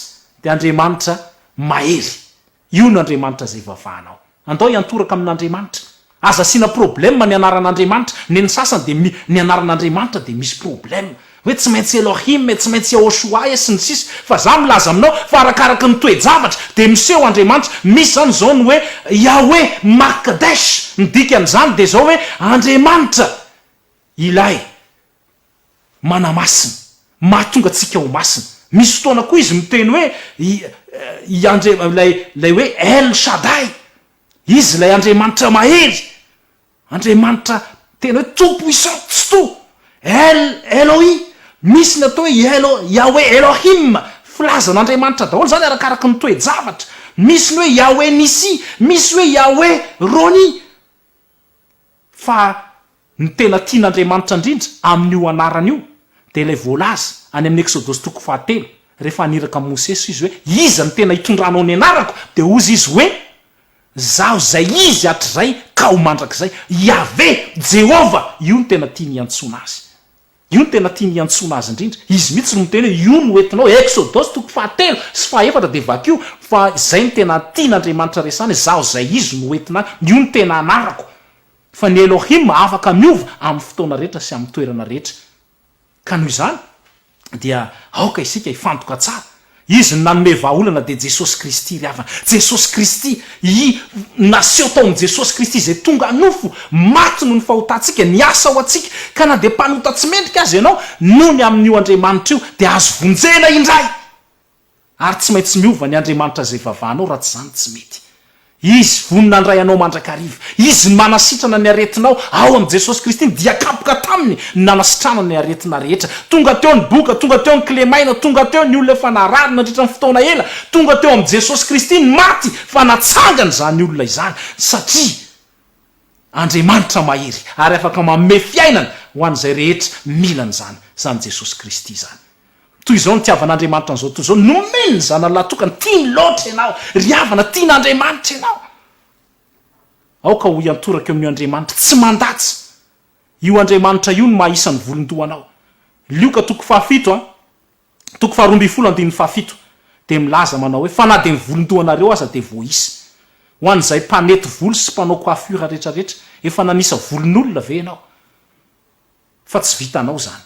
dia Andriamanitra mahery. Io no Andriamanitra izay vavanao. Andao hiantoraka amin'Andriamanitra. Aza asiana problème ny anaran'Andriamanitra. Neny sasany dia mi, ny anaran'Andriamanitra dia misy problème. Hoe tsy maintsy Elohim e, tsy maintsy Yahoshua e, sy ny sisa. Fa za milaza aminao fa arakaraky ny toe-javatra dia miseho Andriamanitra. Misy zany izao ny hoe Yahweh Makdesh. Ny dikan'izany dia izao hoe Andriamanitra ilay. manamasina, mahatonga antsika ho masina. Misy fotoana koa izy miteny hoe i, i Andre, ilay, ilay hoe El Shaddai, Izy ilay Andriamanitra mahery, Andriamanitra tena hoe Tompo isan-tsitoha, El Elohi, misy ny atao hoe i Elo, Yahweh Elohim, filaza an'Andriamanitra daholo izany arakaraky ny toe-javatra, misy ny hoe Yahweh Nissi, misy hoe Yahweh Roni, fa ny tena tian'Andriamanitra indrindra amin'io anarana io dia ilay voalaza any amin'ny Eksodosy toko fahatelo, rehefa haniraka an'i Mosesy Izy hoe, Iza no tena hitondranao ny anarako? Dia hozy Izy hoe, Izaho izay izy hatrizay ka ho mandrakizay. Iaveh, Jehovah, io no tena tiany hiantsoana Azy. Io no tena tiany hiantsoana azy indrindra. Izy mihitsy no miteny hoe io no hoentinao, Eksodosy toko fahatelo sy fahefatra dia vakio fa izay no tena tian'Andriamanitra resahana, izaho izay izy no hoentina any, io no tena anarako. Fa ny Elohim afaka miova amin'ny fotoana rehetra sy amin'ny toerana rehetra. Ka noho izany dia aoka isika hifantoka tsara Izy no nanome vahaolana dia Jesosy Kristy ry havana. Jesosy Kristy I naseho tao amin'i Jesosy Kristy izay tonga nofo, maty noho ny fahotantsika, niasa ho antsika, ka na dia mpanota tsy mendrika aza ianao, nony amin'io Andriamanitra io dia azo vonjena indray! Ary tsy maintsy miova ny Andriamanitra izay vavanao raha tsy izany tsy mety. Izy vonona handray anao mandrakariva. Izy no manasitrana ny aretinao. Ao amin'i Jesosy Kristy ny dia kapoka taminy no nanasitranana ny aretina rehetra. Tonga teo ny boka, tonga teo ny kilemaina, tonga teo ny olona efa narary nandritra ny fotoana ela, tonga teo amin'i Jesosy Kristy ny maty fa natsangana izany olona izany satria. Andriamanitra mahery ary afaka manome fiainana ho an'izay rehetra mila an'izany, izany Jesosy Kristy izany. Toy izao nitiavan'Andriamanitra an'izao tontolo izao, nomeny ny Zanany lahatokany, tiany loatra ianao ry havana, tian'Andriamanitra ianao. Aoka ho iantoraka eo amin'io Andriamanitra tsy mandatsa, io Andriamanitra io ny maha isan'ny volon-dohanao. Lioka toko fahafito a. Toko faharoa ambin'ny folo andininy fahafito dia milaza manao hoe, Fa na dia ny volon-dohanareo aza dia voaisa. Ho an'izay mpanety volo sy mpanao coiffure rehetra rehetra, efa nanisa volon'olona ve ianao? Fa tsy vitanao izany.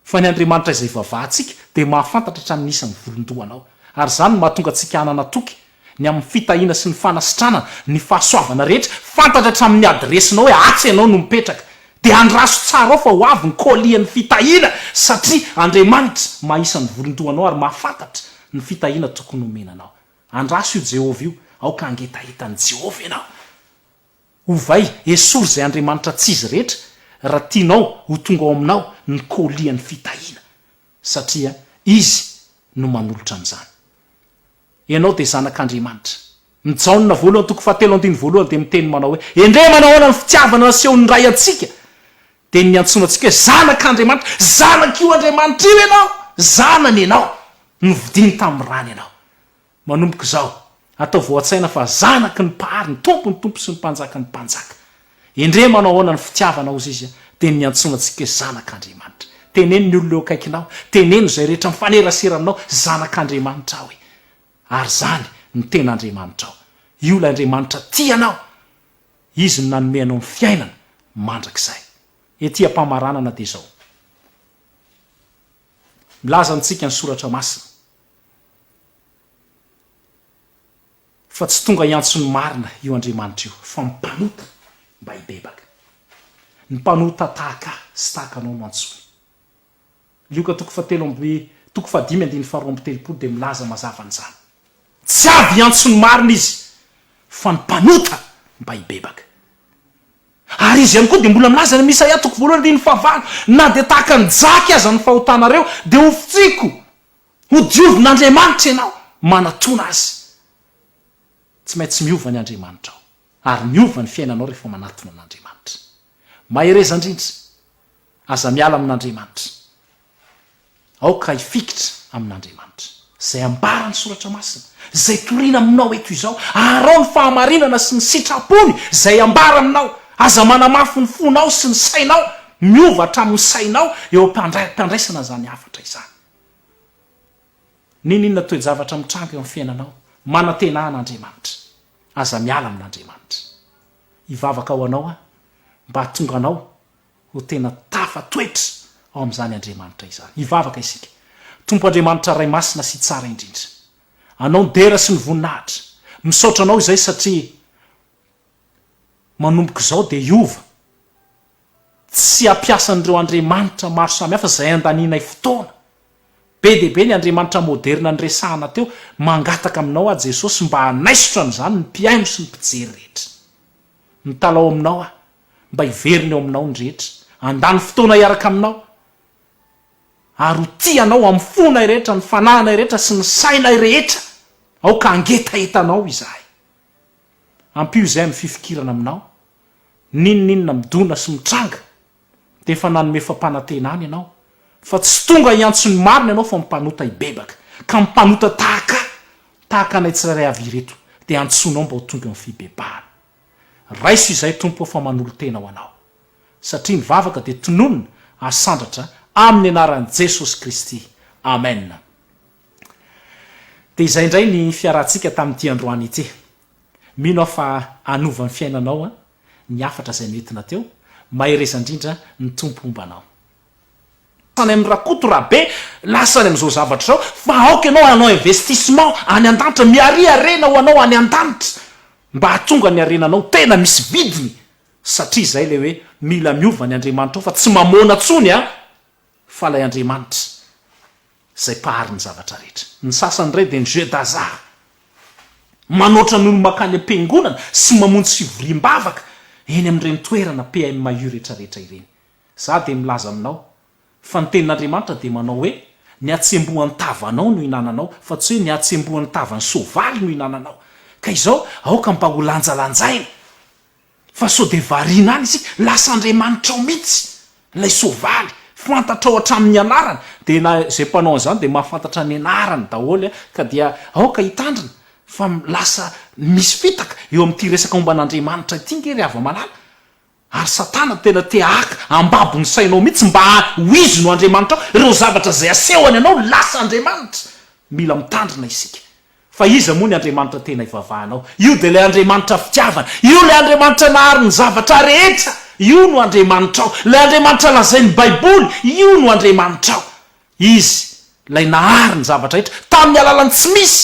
Fa ny Andriamanitra izay ivavahantsika dia mahafantatra hatramin'ny isan'ny volon-dohanao. Ary izany no mahatonga antsika hanana toky ny amin'ny fitahiana sy ny fanasitranana ny fahasoavana rehetra, fantatra hatramin'ny adiresinao hoe atsy ianao no mipetraka, dia andraso tsara ao fa ho avy ny kolian'ny fitahiana satria Andriamanitra maha isan'ny volon-doha anao ary mahafantatra ny fitahiana tokony homena anao. Andraso io Jehovah io, aoka hangetaheta an'i Jehovah ianao. Ovay, esory izay andriamanitra tsy izy rehetra raha tianao ho tonga ao aminao ny kolian'ny fitahiana, satria izy no manolotra an'izany. Ianao dia Zanak'Andriamanitra. Ny Jaona voalohany toko fahatelo andininy voalohany dia miteny manao hoe, Endrey manahoana ny fitiavana nasehon'ny Ray antsika? Dia niantsoana antsika hoe Zanak'Andriamanitra. Zanak'io Andriamanitra io ianao. Zanany ianao. Novidiany tamin'ny rany ianao. Manomboka izao, ataovy ao an-tsaina fa zanaky ny Mpahary, ny Tompon'ny Tompo sy ny Mpanjakan'ny Mpanjaka. Endrey manao ahoana ny fitiavanao ozy izy dia niantsoana antsika hoe zanak'Andriamanitra. Teneno ny olona eo akaikinao, teneno izay rehetra mifanerasera aminao, zanak'Andriamanitra aho e! Ary izany no tena Andriamanitrao. Io ilay Andriamanitra tia anao. Izy no nanome anao ny fiainana mandrakizay. Ety am-pamaranana dia izao. Milaza amintsika ny soratra masina. Fa tsy tonga hiantso ny marina io Andriamanitra io, fa mpanota mba hibebaka. Ny mpanota tahaka ahy sy tahaka anao no antsoiny. Lioka toko fahatelo amby toko fahadimy andininy faharoa amby telopolo dia milaza mazava an'izany. Tsy avy hiantso ny marina izy, fa ny mpanota mba hibebaka. Ary izy ihany koa dia mbola milaza any amin'ny Isaia toko voalohany andininy fahavalo, na dia tahaka ny jaky aza ny fahotanareo, dia ho fotsiko. Ho diovin'Andriamanitra ianao manatona Azy. Tsy maintsy miova ny Andriamanitrao, ary miova ny fiainanao rehefa manatona an'Andriamanitra. Mahereza indrindra, aza miala amin'Andriamanitra. Aoka hifikitra amin'Andriamanitra. Izay ambaran'ny Soratra Masina, izay torina aminao eto izao, aharao ny fahamarinana sy ny sitrapony izay ambara aminao. Aza manamafy ny fonao sy ny sainao, miova hatramin'ny sainao eo am-pandraisana izany hafatra izany. N'inon'inona toe-javatra mitranga eo amin'ny fiainanao, manantena an'Andriamanitra. Aza miala amin'Andriamanitra. Hivavaka ho anao aho mba hahatonga anao ho tena tafatoetra ao amin'izany Andriamanitra izany. Hivavaka isika. Tompo Andriamanitra Ray Masina sy Tsara indrindra. Anao ny dera sy ny voninahitra. Misaotra Anao izay satria manomboka izao dia hiova. Tsy ampiasan'ireo andriamanitra maro samihafa izay andanianay fotoana. Be dia be ny andriamanitra moderina niresahana teo, mangataka aminao aho Jesosy mba hanaisotra an'izany ny mpihaino sy ny mpijery rehetra. Mitalaho aminao aho mba hiverina eo aminao ny rehetra, handany fotoana hiaraka aminao, ary ho tia anao amin'ny fonay rehetra, ny fanahinay rehetra sy ny sainay rehetra. Aoka hangetahetanao izahay. Ampio izay amin'ny fifikirana aminao N'inon'inona midona sy mitranga dia efa nanome fampanantenana ianao fa tsy tonga hiantso ny marina ianao fa mpanota hibebaka ka mpanota tahaka ahy, tahaka anay tsirairay avy ireto dia antsoinao mba ho tonga amin'ny fibebahana. Raiso izay Tompo o fa manolo-tena ho anao. Satria ny vavaka dia tononina ary sandratra amin'ny anaran'i Jesosy Kristy. Amen. Dia izay indray ny fiarahantsika tamin'ity androany ity. Mino aho fa hanova ny fiainanao ny hafatra izay noentina teo, mahereza indrindra, ny Tompo homba anao. Any amin'i Rakoto Rabe lasa any amin'izao zavatra izao fa aoka ianao hanao investissement any andanitra miaria harena ho anao any andanitra mba hahatonga ny harenanao tena misy vidiny satria izay ilay hoe mila miova ny Andriamanitra ao fa tsy mamoana tsony a fa ilay Andriamanitra izay mpahary ny zavatra rehetra. Ny sasany indray dia ny jeu d'hasard. Manoatra ny olona mankany am-piangonana sy mamonjy fivoriam-bavaka eny amin'ireny toerana PMU rehetrarehetra ireny. Izaho dia milaza aminao fa ny tenin'Andriamanitra dia manao hoe, Ny hatsembohan'ny tavanao no ihinananao, fa tsy hoe ny hatsembohan'ny tavan'ny soavaly no ihinananao. Ka izao, aoka mba ho lanjalanjaina! Fa sao dia variana any isika, lasa andriamanitrao mihitsy ilay soavaly, fantatrao hatramin'ny anarany, dia na izay mpanao an'izany dia mahafantatra ny anarany daholo ka dia aoka hitandrina fa lasa misy fitaka eo amin'ity resaka momba an'Andriamanitra ity nge ry hava-malala, ary satana tena te haka ambabo ny sainao mihitsy mba ho izy no andriamanitrao, ireo zavatra izay asehony anao lasa andriamanitra, mila mitandrina isika. Fa iza moa ny Andriamanitra tena ivavahanao? Io dia ilay Andriamanitra fitiavana. Io ilay Andriamanitra nahary ny zavatra rehetra. Io no Andriamanitrao. Ilay Andriamanitra lazain'ny Baiboly, io no Andriamanitrao. Izy ilay nahary ny zavatra rehetra, tamin'ny alalan'ny tsy misy.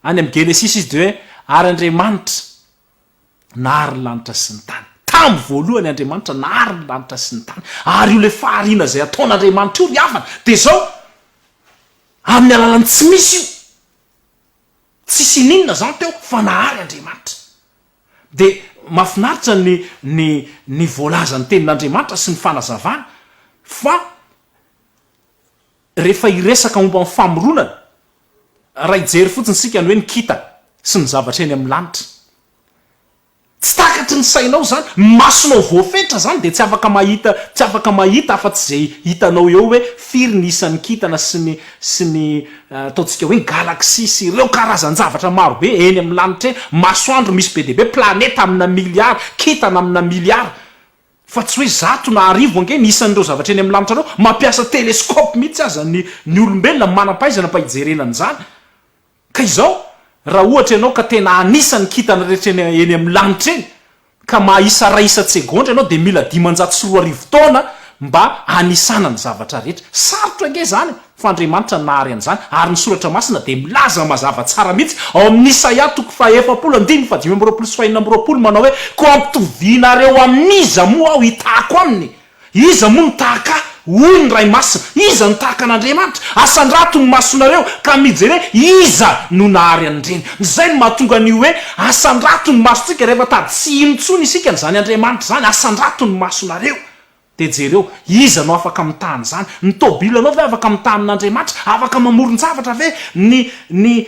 Any amin'ny Genesisy izy dia hoe, Ary Andriamanitra. Nahary ny lanitra sy ny tany. Tamin'ny voalohany Andriamanitra nahary ny lanitra sy ny tany. Ary io ilay fahariana izay ataon'Andriamanitra io ny havana. Dia izao, amin'ny alalan'ny tsy misy io. Tsisy ininona izany teo fa nahary Andriamanitra. Dia mahafinaritra ny ny ny voalazan'ny tenin'Andriamanitra sy ny fanazavany fa. Rehefa hiresaka momba ny famoronana, raha hijery fotsiny isika ny hoe ny kintana sy ny zavatra eny amin'ny lanitra, tsy takatry ny sainao izany, ny masonao voafetra izany dia tsy afaka mahita tsy afaka mahita afa-tsy izay hitanao eo hoe firy ny isan'ny kintana sy ny sy ny ataontsika hoe ny galaxie sy ireo karazan-javatra maro be eny amin'ny lanitra eny, masoandro misy be dia be, planeta amina miliara, kintana amina miliara. Fa tsy hoe zato na arivo ange ny isan'ireo zavatra eny amin'ny lanitra anao, mampiasa telescope mihitsy aza ny ny olombelona manam-pahaizana mba hijerena an'izany. Ka izao, raha ohatra ianao ka tena hanisa ny kintana rehetra eny eny amin'ny lanitra eny, ka mahaisa iray isan-tsegondra ianao dia mila dimanjato sy roa arivo taona mba hanisana ny zavatra rehetra. Sarotra ange izany e! Fa Andriamanitra nahary an'izany, ary ny Soratra Masina dia milaza mazava tsara mihitsy ao amin'ny Isaia toko fahaefapolo andininy fahadimy amby roapolo sy fahenina amby roapolo manao hoe, Koa ampitovianareo amin'iza moa aho hitahako aminy? Iza moa no tahaka ahy? hoy ny Ray Masina. Iza no tahaka an'Andriamanitra? Asandrato ny masonareo ka mijere iza no nahary an'ireny. Izay no mahatonga an'io hoe asandrato ny masontsika rehefa tady tsy hino intsony isika an'izany Andriamanitra izany, asandrato ny masonareo. Dia jereo, iza no afaka mitaha an'izany? Ny tôbilanao ve afaka mitaha amin'Andriamanitra? Afaka mamoron-javatra ve? Ny, ny,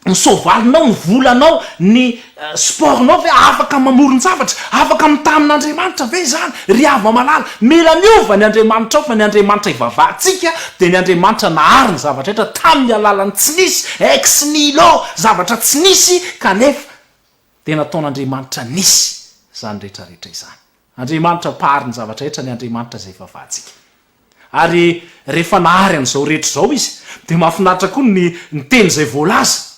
ny soavalinao, ny volanao, ny sport-nao ve afaka mamoron-javatra? Afaka mitaha amin'Andriamanitra ve izany? Ry havana malala, mila miova ny andriamanitrao, fa ny Andriamanitra ivavahantsika dia ny Andriamanitra nahary ny zavatra rehetra tamin'ny alalan'ny tsy nisy, ex nihilo, zavatra tsy nisy, kanefa, dia nataon'Andriamanitra nisy izany rehetra rehetra izany. Andriamanitra mpaharin'ny zavatra rehetra ny Andriamanitra izay vavahantsika. Ary rehefa nahary an'izao rehetra izao izy dia mahafinaritra koa ny ny teny izay voalaza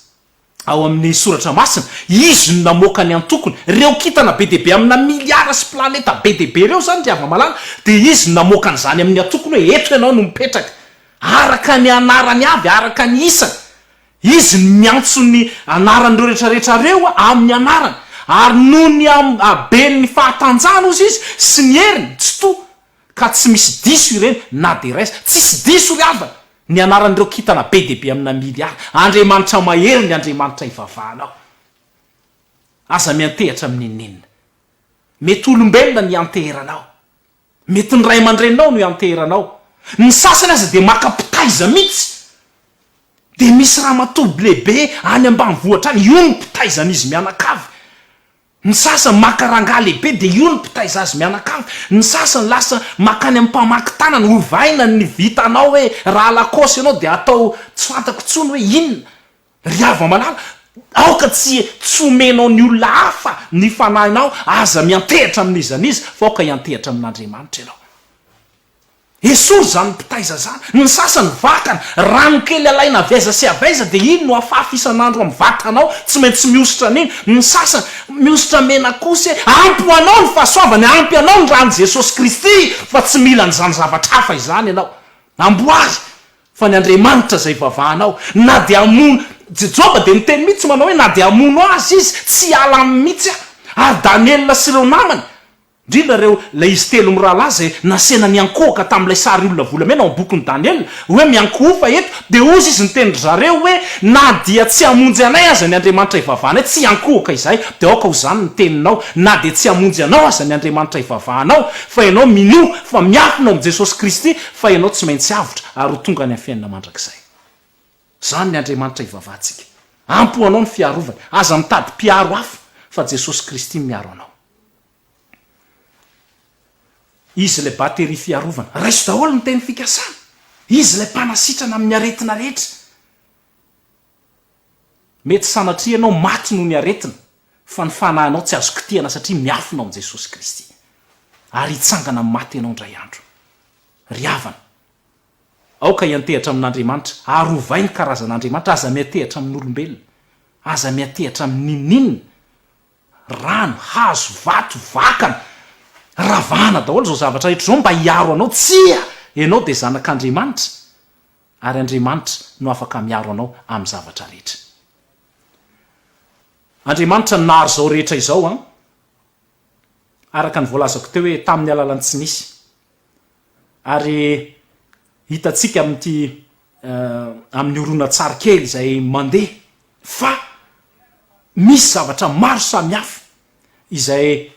ao amin'ny soratra masina, izy no namoaka ny antokony, ireo kintana be dia be amina miliara sy planeta be dia be ireo izany ry hava-malala dia izy no namoaka an'izany amin'ny antokony hoe eto ianao no mipetraka, araka ny anarany avy, araka ny isany. Izy no miantso ny anaran'ireo rehetrarehetra reo amin'ny anarany, ary noho ny haben'ny fahatanjahany ozy Izy sy ny heriny tsitoha, ka tsy misy diso ireny na dia iray aza. Tsisy diso, ry havana, ny anaran'ireo kintana be dia be amina miliara. Andriamanitra mahery ny Andriamanitra ivavahanao. Aza miantehatra amin'ny nenina. Mety olombelona ny ianteheranao. Mety ny ray aman-dreninao no ianteheranao. Ny sasany aza dia maka mpitaiza mihitsy. Dia misy ramatoa lehibe any ambanivohitra any, io no mpitaizan'izy mianakavy. Ny sasany maka rangahy lehibe dia io no mpitaiza azy mianakavy. Ny sasany lasa makany amin'ny mpamaky tanana, ovaina ny vitanao hoe raha lakôsy ianao dia atao tsy fantako intsony hoe inona. Ry hava-malala, aoka tsy tsy homenao ny olona hafa ny fanahinao, aza miantehitra amin'iza n'iza, fa aoka hiantehitra amin'Andriamanitra ianao. Esory izany mpitaiza izany. Ny sasany vakana, rano kely alaina avy aiza sy avy aiza dia iny no afafy isan'andro amin'ny vatanao, tsy maintsy mihosotra an'iny. Ny sasany, mihosotra mena kosa e! Ampy ho anao ny fahasoavana, ampy anao ny ran'i Jesosy Kristy, fa tsy mila an'izany zavatra hafa izany ianao. Amboary! Fa ny Andriamanitra izay ivavahanao, na dia hamono, Joba dia niteny mihitsy manao hoe na dia hamono azy izy, tsy hiala aminy mihitsy aho. Ary Daniela sy ireo namany, indrindra ireo, ilay izy telo mirahalahy izay nasehina niankohoka tamin'ilay sary olona volamena ao amin'ny bokin'i Daniela, hoe miankohofa eto, dia hozy izy niteny ry zareo hoe, na dia tsy hamonjy anay aza ny Andriamanitra ivavahanay, tsy hiankohoka izahay, dia aoka ho izany ny teninao, na dia tsy hamonjy anao aza ny Andriamanitra ivavahanao, fa ianao minoa fa miafina ao amin'i Jesosy Kristy, fa ianao tsy maintsy avotra ary ho tonga any amin'ny fiainana mandrakizay. Izany ny Andriamanitra ivavahantsika. Ampy ho anao ny fiarovany. Aza mitady mpiaro hafa fa Jesosy Kristy no miaro anao. Izy ilay bateria fiarovana. Raiso daholo ny teny fikasana. Izy ilay mpanasitrana amin'ny aretina rehetra. Mety sanatria ianao maty noho ny aretina, fa ny fanahinao tsy azo kitihana satria miafina ao amin'i Jesosy Kristy. Ary hitsangana amin'ny maty ianao indray andro. Ry havana, aoka hiantehatra amin'Andriamanitra, ary ovay ny karazan'Andriamanitra, aza miantehatra amin'olombelona. Aza miantehatra amin'ny n'inon'inona. Rano, hazo, vato, vakana. Ravahana daholo izao zavatra rehetra izao mba hiaro anao. Tsia! Ianao dia zanak'Andriamanitra. Ary Andriamanitra no afaka miaro anao amin'ny zavatra rehetra. Andriamanitra no nahary izao rehetra izao an! Araka ny voalazako teo hoe tamin'ny alalan'ny tsy nisy. Ary hitantsika amin'ity amin'ny horonantsary kely izay mandeha fa misy zavatra maro samihafa izay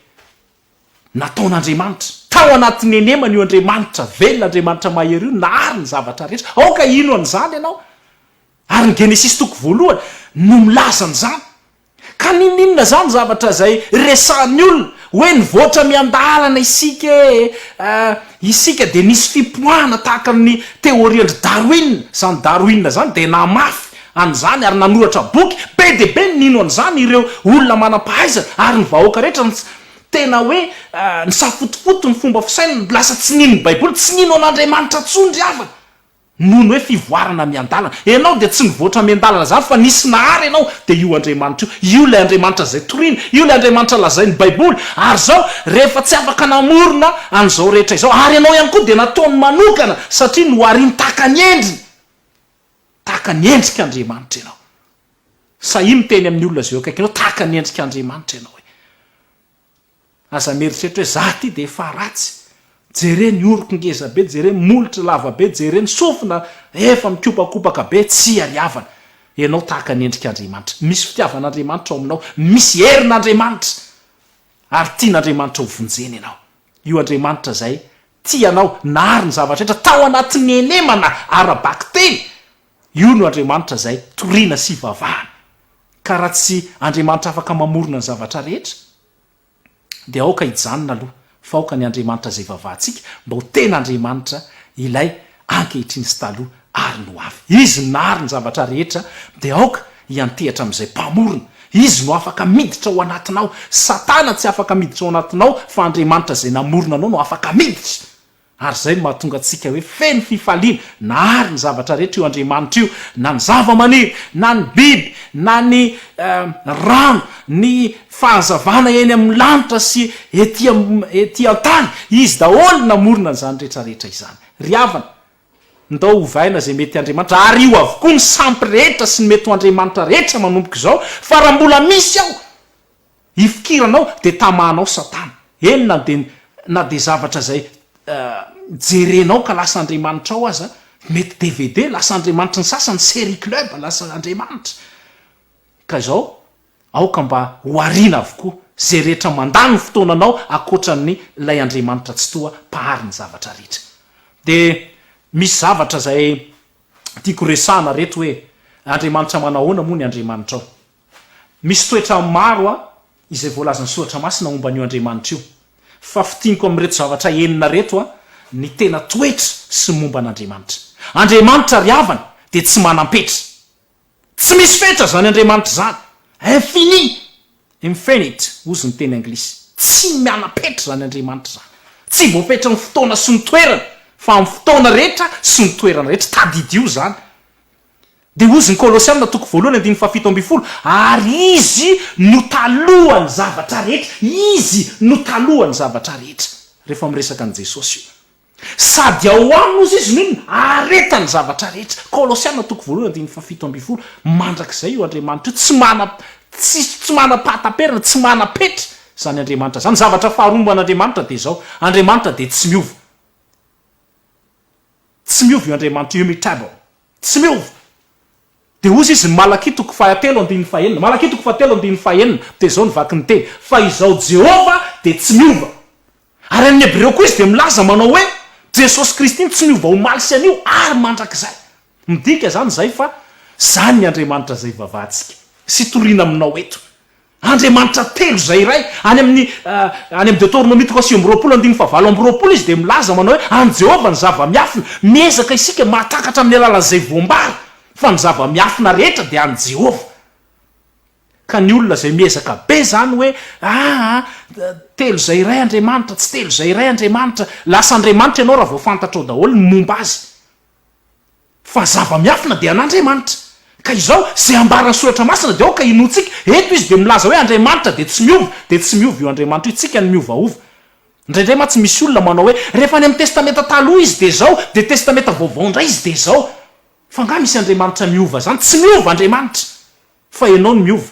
nataon'Andriamanitra. Tao anatin'ny henemana io Andriamanitra velona, Andriamanitra mahery io nahary ny zavatra rehetra. Aoka hino an'izany ianao. Ary ny Genesisy toko voalohany no milaza an'izany. Ka ninoninona izany zavatra izay resahan'ny olona hoe nivoatra miandalana isika e! isika dia nisy fipoahana tahaka ny teôrian-dry Darwin. Izany Darwin izany dia namafy an'izany ary nanoratra boky be dia be ny nino an'izany ireo olona manam-pahaizana ary ny vahoaka rehetra ny tsy tena hoe nisafotofoto ny fomba fisainany lasa tsy nino ny baiboly tsy nino an'Andriamanitra intsony ry havana noho ny hoe fivoarana miandalana ianao dia tsy nivoatra miandalana izany fa nisy nahary ianao dia io Andriamanitra io io ilay Andriamanitra izay torina io ilay Andriamanitra lazain'ny baiboly ary izao rehefa tsy afaka namorona an'izao rehetra izao ary ianao ihany koa dia nataony manokana satria noharin-takany endriny Tahaka ny endrik' Andriamanitra ianao. Sahia miteny amin'ny olona izay eo akaikinao, tahaka ny endrik' Andriamanitra ianao hoe. Aza mieritreritra hoe, 'Izaho ity dia efa ratsy. Jere ny oroko ngeza be, jere ny molotro lava be, jere ny sofina efa mikopakopaka be, tsy iariavana. Ianao tahaka ny endrik' Andriamanitra. Misy fitiavan' Andriamanitra ao aminao, misy herin' Andriamanitra, ary tian' Andriamanitra ho vonjena ianao. Io Andriamanitra izay Tsy ianao nahary ny zavatra rehetra tao anatin'ny henemana ara-bakiteny, io no Andriamanitra izay toriana sy ivavahana. Ka raha tsy Andriamanitra afaka mamorona ny zavatra rehetra, dia aoka hijanona aloha fa aoka ny Andriamanitra izay ivavahantsika mba ho tena Andriamanitra ilay ankehitriny sy taloha ary ny ho avy. Izy no nahary ny zavatra rehetra, dia aoka hiantehatra amin'izay Mpamorona. Izy no afaka miditra ao anatinao. Satana tsy afaka miditra ao anatinao, fa Andriamanitra izay namorona anao no afaka miditra. Ary izay no mahatonga antsika hoe feno fifaliana, nahary ny zavatra rehetra io Andriamanitra io, na ny zava-maniry, na ny biby, na ny rano, ny fahazavana eny amin'ny lanitra sy ety an-tany. Izy daholo no namorona an'izany rehetra rehetra izany. Ry havana, ndao ovaina izay mety Andriamanitra, ary io avokoa ny sampy rehetra sy ny mety ho Andriamanitra rehetra manomboka izao, fa raha mbola misy ao ifikiranao dia tamahanao satana, eny na dia na dia zavatra izay jerenao ka lasa Andriamanitrao aza, mety dvd, lasa Andriamanitry ny sasany, serie club, lasa Andriamanitra ka izao, Aoka mba ho ariana avokoa izay rehetra mandà ny fotoananao ankoatra ny Ilay Andriamanitra Tsitoha Mpahary ny zavatra rehetra. Dia misy zavatra izay tiako resahana reto hoe, Andriamanitra manahoana moa ny Andriamanitrao? Misy toetra maro a izay voalazan'ny Soratra Masina momba an'io Andriamanitra io. Fa fintiniko amin'ireto zavatra enina reto a ny tena toetra sy momba an'Andriamanitra. Andriamanitra ry havana dia tsy manam-petra. Tsy misy fetra izany Andriamanitra izany. Infini, infinite, hozy ny teny anglisy. Tsy miana-petra izany Andriamanitra izany. Tsy voafetry ny fotoana sy ny toerana, fa amin'ny fotoana rehetra sy ny toerana rehetra. Tadidio izany. Dia hozy ny Kolosiana toko voalohany andininy fahafito ambin'ny folo, Ary Izy no talohan'ny zavatra rehetra. Izy no talohan'ny zavatra rehetra. Rehefa miresaka an'i Jesosy io. Sady ao aminy ozy izy no inona? Ahareta ny zavatra rehetra. Kolosiana toko voalohany andininy fahafito ambin'ny folo, Mandrakizay io Andriamanitra io, tsy mana, tsy, tsy manam-pahataperana, tsy manam-petra izany Andriamanitra izany. Zavatra faharoa momba an'Andriamanitra dia izao, Andriamanitra dia tsy miova. Tsy miova io Andriamanitra io, immutable. Tsy miova. Dia hozy izy ny Malakia toko fahatelo andininy fahenina, Malakia toko fahatelo andininy fahenina, dia izao ny vaky ny teny, Fa izao Jehovah dia tsy miova. Ary amin'ny Hebreo koa izy dia milaza manao hoe, Jesosy Kristy no tsy niova omaly sy anio ary mandrakizay. Midika izany izay fa izany ny Andriamanitra izay ivavahantsika sy itoriana aminao eto. Andriamanitra telo izay iray. Any amin'ny any amin'ny Deoteronomia toko sivy amby roapolo andininy fahavalo amby roapolo izy dia milaza manao hoe, An'i Jehovah ny zava-miafina. Miezaka isika mahatakatra amin'ny alalan'izay voambara fa ny zava-miafina rehetra dia an'i Jehovah. Ka ny olona izay miezaka be izany hoe aa telo izay iray Andriamanitra, tsy telo izay iray Andriamanitra, lasa Andriamanitra ianao raha vao fantatrao daholo ny momba azy. Fa zava-miafina dia an'Andriamanitra. Ka izao, izay ambaran'ny soratra masina dia aoka inoantsika, eto izy dia milaza hoe Andriamanitra dia tsy miova, dia tsy miova io Andriamanitra io, tsika no miovaova. Indraindray mantsy misy olona manao hoe rehefa any amin'ny testamenta taloha izy dia izao, dia testamenta vaovao indray izy dia izao. Fa angaha misy Andriamanitra miova izany? Tsy miova Andriamanitra. Fa ianao no miova.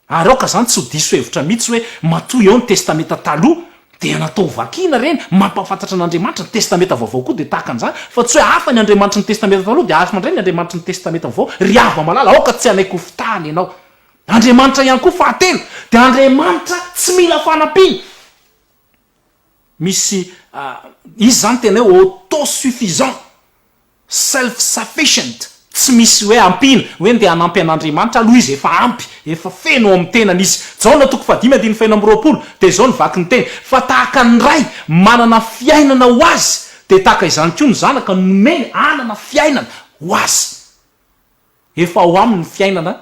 Ary aoka izany tsy ho diso hevitra mihitsy hoe matoa eo ny Testamenta Taloha dia natao ho vakina ireny, mampahafantatra an'Andriamanitra, ny Testamenta Vaovao koa dia tahaka an'izany, fa tsy hoe hafa ny Andriamanitry ny Testamenta Taloha dia hafa indray ny Andriamanitry ny Testamenta Vaovao. Ry havana malala, aoka tsy hanaiky ho fitahana ianao. Andriamanitra ihany koa, fahatelo, dia Andriamanitra tsy mila fanampiana. Misy, izy izany tena hoe auto-suffisant. Self sufficient, tsy misy hoe ampiana, hoe ndeha hanampy an'Andriamanitra, aloha izy efa ampy, efa feno ao amin'ny tenany izy. Jaona toko fahadimy andininy fahenina amby roapolo, dia izao ny vaky ny teny, Fa tahaka ny Ray manana fiainana ho azy, dia tahaka izany koa ny Zanaka no nomeny hanana fiainana ho azy. Efa ao aminy ny fiainana,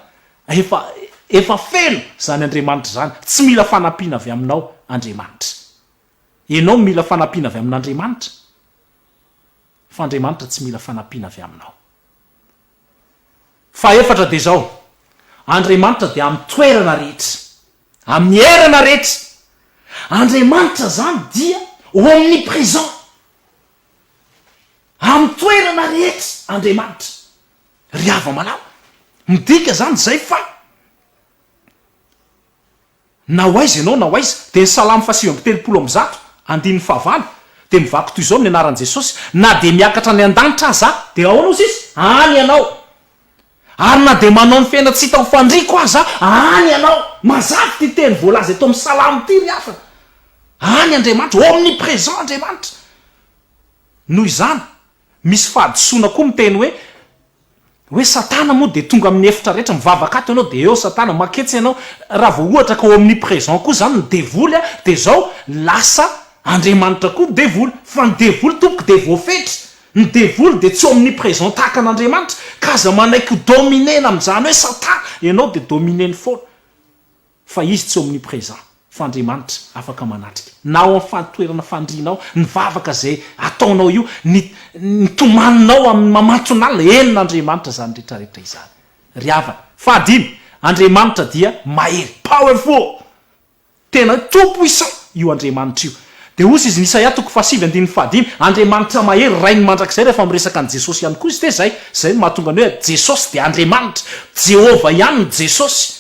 efa, efa feno izany Andriamanitra izany. Tsy mila fanampiana avy aminao Andriamanitra. Ianao no mila fanampiana avy amin'Andriamanitra. Fa Andriamanitra tsy mila fanampiana avy aminao. Fahefatra dia izao, Andriamanitra dia amin'ny toerana rehetra, amin'ny erana rehetra. Andriamanitra izany dia omnipresent. Amin'ny toerana rehetra Andriamanitra. Ry hava-malala, midika izany izay fa. Na ho aiza ianao na ho aiza, dia ny Salamo fahasivy amby telopolo amby zato, andininy fahavalo, dia mivaky toy izao ny anaran'i Jesosy, Na dia miakatra any an-danitra aza aho. Dia ahoana hozy izy? Any ianao. Ary na dia manao ny fiaina tsy hita ho fandriako aza aho, any ianao. Mazava ity teny voalaza eto amin'ny Salamo ity ry havana. Any Andriamanitra, omnipresent Andriamanitra. Noho izany. Misy fahadisoana koa miteny hoe, hoe satana moa dia tonga amin'ny efitra rehetra, mivavaka ato ianao dia eo satana, maketsy ianao, raha vao ohatra ka omnipresent koa izany ny devoly dia izao lasa Andriamanitra koa ny devoly, fa ny devoly tompoko dia voafetra, ny devoly dia tsy omnipresent tahaka an'Andriamanitra, ka aza manaiky ho dominer-na amin'izany hoe satana, ianao dia dominer-ny foana. Fa Izy tsy omnipresent, fa Andriamanitra afaka manatrika na ao amin'ny fahantoerana fandrianao, ny vavaka izay ataonao io, ny ny tomaninao amin'ny mamanton'alina, eny n'Andriamanitra izany retraretra izany ry havana. Fahadimy, Andriamanitra dia mahery, powerful, tena hoe tout puissant io Andriamanitra io. Dia hozy izy ny Isaia toko fahasivy andininy fahadimy, Andriamanitra mahery, Rain'ny mandrakizay rehefa miresaka an'i Jesosy ihany koa izy dia izay, izay no mahatonga ny hoe Jesosy dia Andriamanitra, Jehovah ihany ny Jesosy,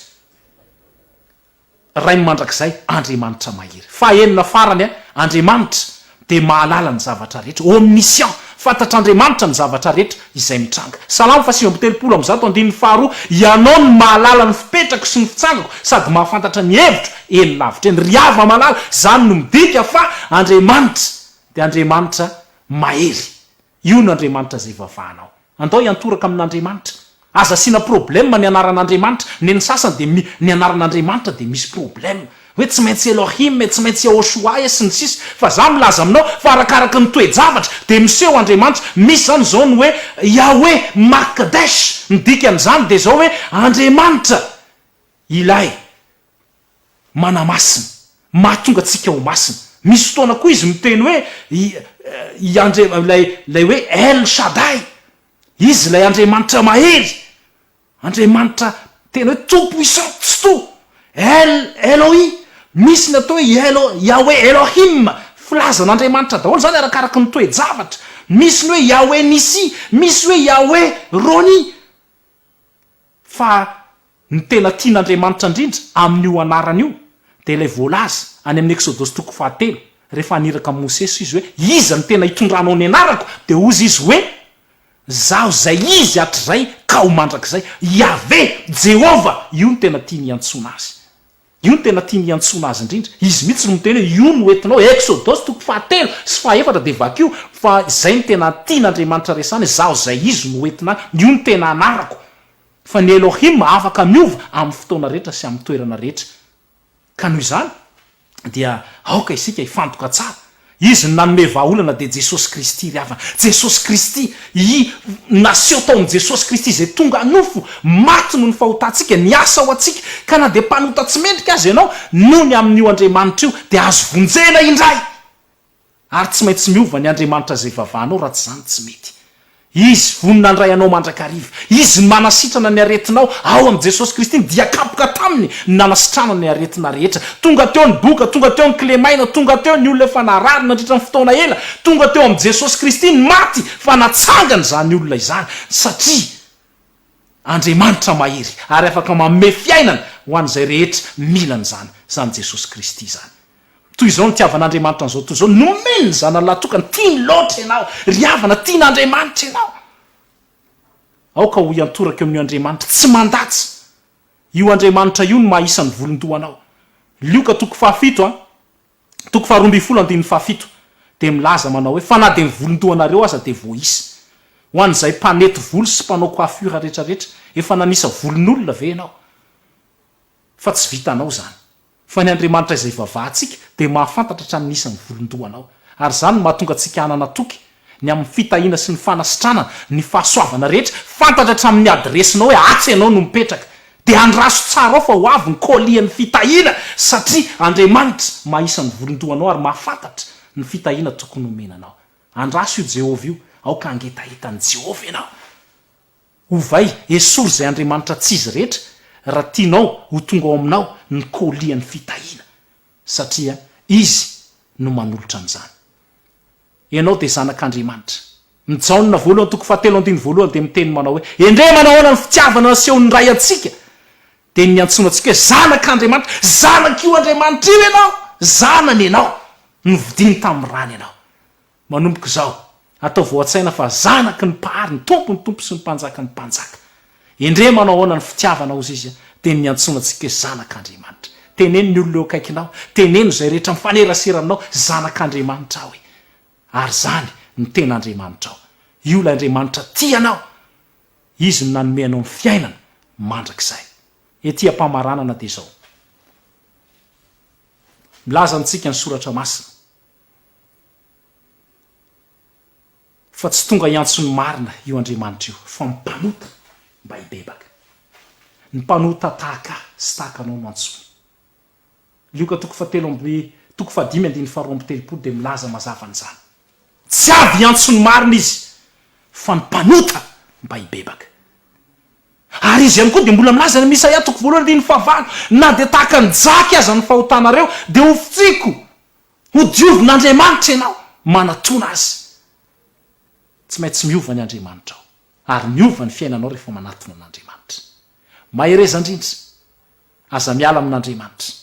Ray mandrakizay, Andriamanitra mahery. Fahenina farany, Andriamanitra dia mahalala ny zavatra rehetra, omniscient, fantatr'Andriamanitra ny zavatra rehetra izay mitranga. Salamo fahasivy amby telopolo amby zato andininy faharoa, Ianao no mahalala ny fipetrako sy ny fitsangako sady mahafantatra ny hevitro eny lavitra eny. Ry Yavah malala, izany no midika fa Andriamanitra dia Andriamanitra mahery. Io n'Andriamanitra izay vavanao. Andao hiantoraka amin'Andriamanitra. Aza asiana problème ny anaran'Andriamanitra. Neny sasany dia mi, ny anaran'Andriamanitra dia misy problème. Hoe tsy maintsy Elohim e, tsy maintsy Yahoshua e, sy ny sisa. Fa za milaza aminao fa arakaraky ny toe-javatra dia miseho Andriamanitra. Misy zany izao ny hoe Yahweh Makdesh. Ny dikan'izany dia izao hoe Andriamanitra ilay. manamasina, mahatonga antsika ho masina. Misy fotoana koa izy miteny hoe i i Andria- ilay ilay hoe El Shaddai, izy ilay Andriamanitra mahery, Andriamanitra tena hoe Tompo isan-tsitoha, El Elohi, misy ny atao hoe i Elo- Yahweh Elohim, filaza an'Andriamanitra daholo izany arakaraky ny toe-javatra, misy ny hoe Yahweh Nissi, misy hoe Yahweh Roni, fa ny tena tian'Andriamanitra indrindra amin'io anarana io dia ilay voalaza any amin'ny Eksodosy toko fahatelo, rehefa haniraka an'i Mosesy Izy hoe, Iza no tena hitondranao ny anarako? Dia hozy Izy hoe, Izaho izay Izy hatrizay ka ho mandrakizay. Iaveh, Jehovah, io no tena tiany hiantsoana Azy. Io no tena tiany hiantsoana azy indrindra. Izy mihitsy no miteny hoe io no hoentinao, Eksodosy toko fahatelo sy fahefatra dia vakio fa izay no tena tian'Andriamanitra resahana, izaho izay izy no hoentina any, io no tena anarako. Fa ny Elohim afaka miova amin'ny fotoana rehetra sy amin'ny toerana rehetra. Ka noho izany dia aoka isika hifantoka tsara Izy no nanome vahaolana dia Jesosy Kristy ry havana. Jesosy Kristy I naseho tao amin'i Jesosy Kristy izay tonga nofo, maty noho ny fahotantsika, niasa ho antsika, ka na dia mpanota tsy mendrika aza ianao, nony amin'io Andriamanitra io dia azo vonjena indray! Ary tsy maintsy miova ny Andriamanitra izay vavanao raha tsy izany tsy mety. Izy vonona handray anao mandrakariva. Izy no manasitrana ny aretinao. Ao amin'i Jesosy Kristy ny dia kapoka taminy no nanasitranana ny aretina rehetra. Tonga teo ny boka, tonga teo ny kilemaina, tonga teo ny olona efa narary nandritra ny fotoana ela, tonga teo amin'i Jesosy Kristy ny maty fa natsangana izany olona izany satria. Andriamanitra mahery ary afaka manome fiainana ho an'izay rehetra mila an'izany, izany Jesosy Kristy izany. Toy izao nitiavan'Andriamanitra an'izao tontolo izao, nomeny ny Zanany lahatokany, tiany loatra ianao ry havana, tian'Andriamanitra ianao. Aoka ho iantoraka eo amin'io Andriamanitra tsy mandatsa, io Andriamanitra io no maha isan'ny volon-dohanao. Lioka toko fahafito a. toko faharoa ambin'ny folo andininy fahafito dia milaza manao hoe, Fa na dia ny volon-dohanareo aza dia voaisa. Ho an'izay mpanety volo sy mpanao coiffure rehetra rehetra, efa nanisa volon'olona ve ianao? Fa tsy vitanao izany. Fa ny Andriamanitra izay ivavahantsika dia mahafantatra hatramin'ny isan'ny volon-dohanao. Ary izany no mahatonga antsika hanana toky ny amin'ny fitahiana sy ny fanasitranana ny fahasoavana rehetra, fantatra hatramin'ny adiresinao hoe atsy ianao no mipetraka, dia andraso tsara ao fa ho avy ny kolian'ny fitahiana satria Andriamanitra maha isan'ny volon-doha anao ary mahafantatra ny fitahiana tokony homena anao. Andraso io Jehovah io, aoka hangetaheta an'i Jehovah ianao. Ovay, esory izay andriamanitra tsy izy rehetra raha tianao ho tonga ao aminao ny kolian'ny fitahiana, satria izy no manolotra an'izany. Ianao dia Zanak'Andriamanitra. Ny Jaona voalohany toko fahatelo andininy voalohany dia miteny manao hoe, Endrey manahoana ny fitiavana nasehon'ny Ray antsika? Dia niantsoana antsika hoe Zanak'Andriamanitra. Zanak'io Andriamanitra io ianao. Zanany ianao. Novidiany tamin'ny rany ianao. Manomboka izao, ataovy ao an-tsaina fa zanaky ny Mpahary, ny Tompon'ny Tompo sy ny Mpanjakan'ny Mpanjaka. Endrey manao ahoana ny fitiavanao ozy izy dia niantsoana antsika hoe zanak'Andriamanitra. Teneno ny olona eo akaikinao, teneno izay rehetra mifanerasera aminao, zanak'Andriamanitra aho e! Ary izany no tena Andriamanitrao. Io ilay Andriamanitra tia anao. Izy no nanome anao ny fiainana mandrakizay. Ety am-pamaranana dia izao. Milaza amintsika ny soratra masina. Fa tsy tonga hiantso ny marina io Andriamanitra io, fa mpanota mba hibebaka. Ny mpanota tahaka ahy sy tahaka anao no antsoiny. Lioka toko fahatelo amby toko fahadimy andininy faharoa amby telopolo dia milaza mazava an'izany. Tsy avy hiantso ny marina izy, fa ny mpanota mba hibebaka. Ary izy ihany koa dia mbola milaza any amin'ny Isaia toko voalohany andininy fahavalo, na dia tahaka ny jaky aza ny fahotanareo, dia hofotsiko. Ho diovin'Andriamanitra ianao manatona Azy. Tsy maintsy miova ny Andriamanitrao, ary miova ny fiainanao rehefa manatona an'Andriamanitra. Mahereza indrindra. Aza miala amin'Andriamanitra.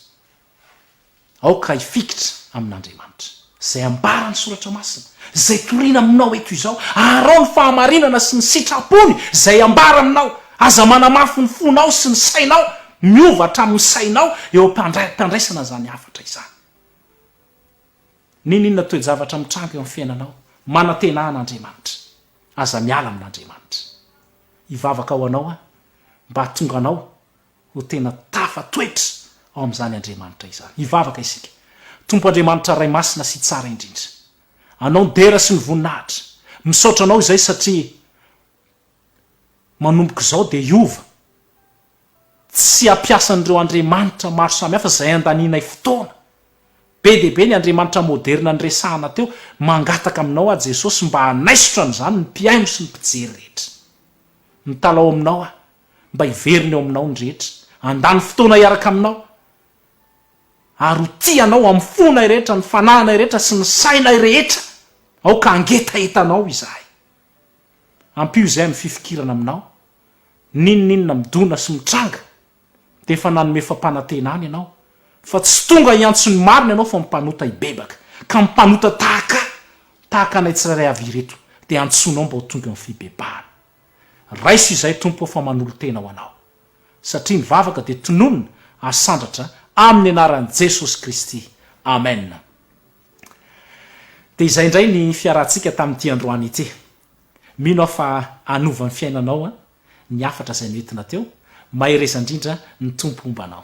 Aoka hifikitra amin'Andriamanitra. Izay ambaran'ny Soratra Masina, izay torina aminao eto izao, aharao ny fahamarinana sy ny sitrapony izay ambara aminao. Aza manamafy ny fonao sy ny sainao. Miova hatramin'ny sainao eo am-pandraisana izany hafatra izany. N'inon'inona toe-javatra mitranga eo amin'ny fiainanao, manantena an' Andriamanitra. Aza miala amin' Andriamanitra. Hivavaka ho anao aho mba hahatonga anao ho tena tafatoetra ao amin'izany Andriamanitra izany. Hivavaka isika. Tompo Andriamanitra Ray Masina sy Tsara indrindra. Anao ny dera sy ny voninahitra. Misaotra Anao izay satria manomboka izao dia hiova. Tsy ampiasan'ireo andriamanitra maro samihafa izay andanianay fotoana. Be dia be ny andriamanitra moderina niresahana teo. Mangataka aminao aho Jesosy mba hanaisotra an'izany ny mpihaino sy ny mpijery rehetra. Mitalaho aminao aho mba hiverina eo aminao ny rehetra, handany fotoana hiaraka aminao, ary ho tia anao amin'ny fonay rehetra, ny fananay rehetra sy ny sainay rehetra. Aoka hangetahetanao izahay. Ampio izay amin'ny fifikirana aminao. N'inon'inona midona sy mitranga dia efa nanome fampanantenana ianao fa tsy tonga hiantso ny marina ianao fa mpanota hibebaka ka mpanota tahaka ahy, tahaka anay tsirairay avy ireto dia antsoinao mba ho tonga amin'ny fibebahana. Raiso izay Tompo o fa manolo-tena ho anao. Satria ny vavaka dia tononina ary sandratra amin'ny anaran'i Jesosy Kristy. Amen. Dia izay indray ny fiarahantsika tamin'ity androany ity. Mino aho fa hanova ny fiainanao an ny hafatra izay noentina teo, mahereza indrindra ny Tompo homba anao.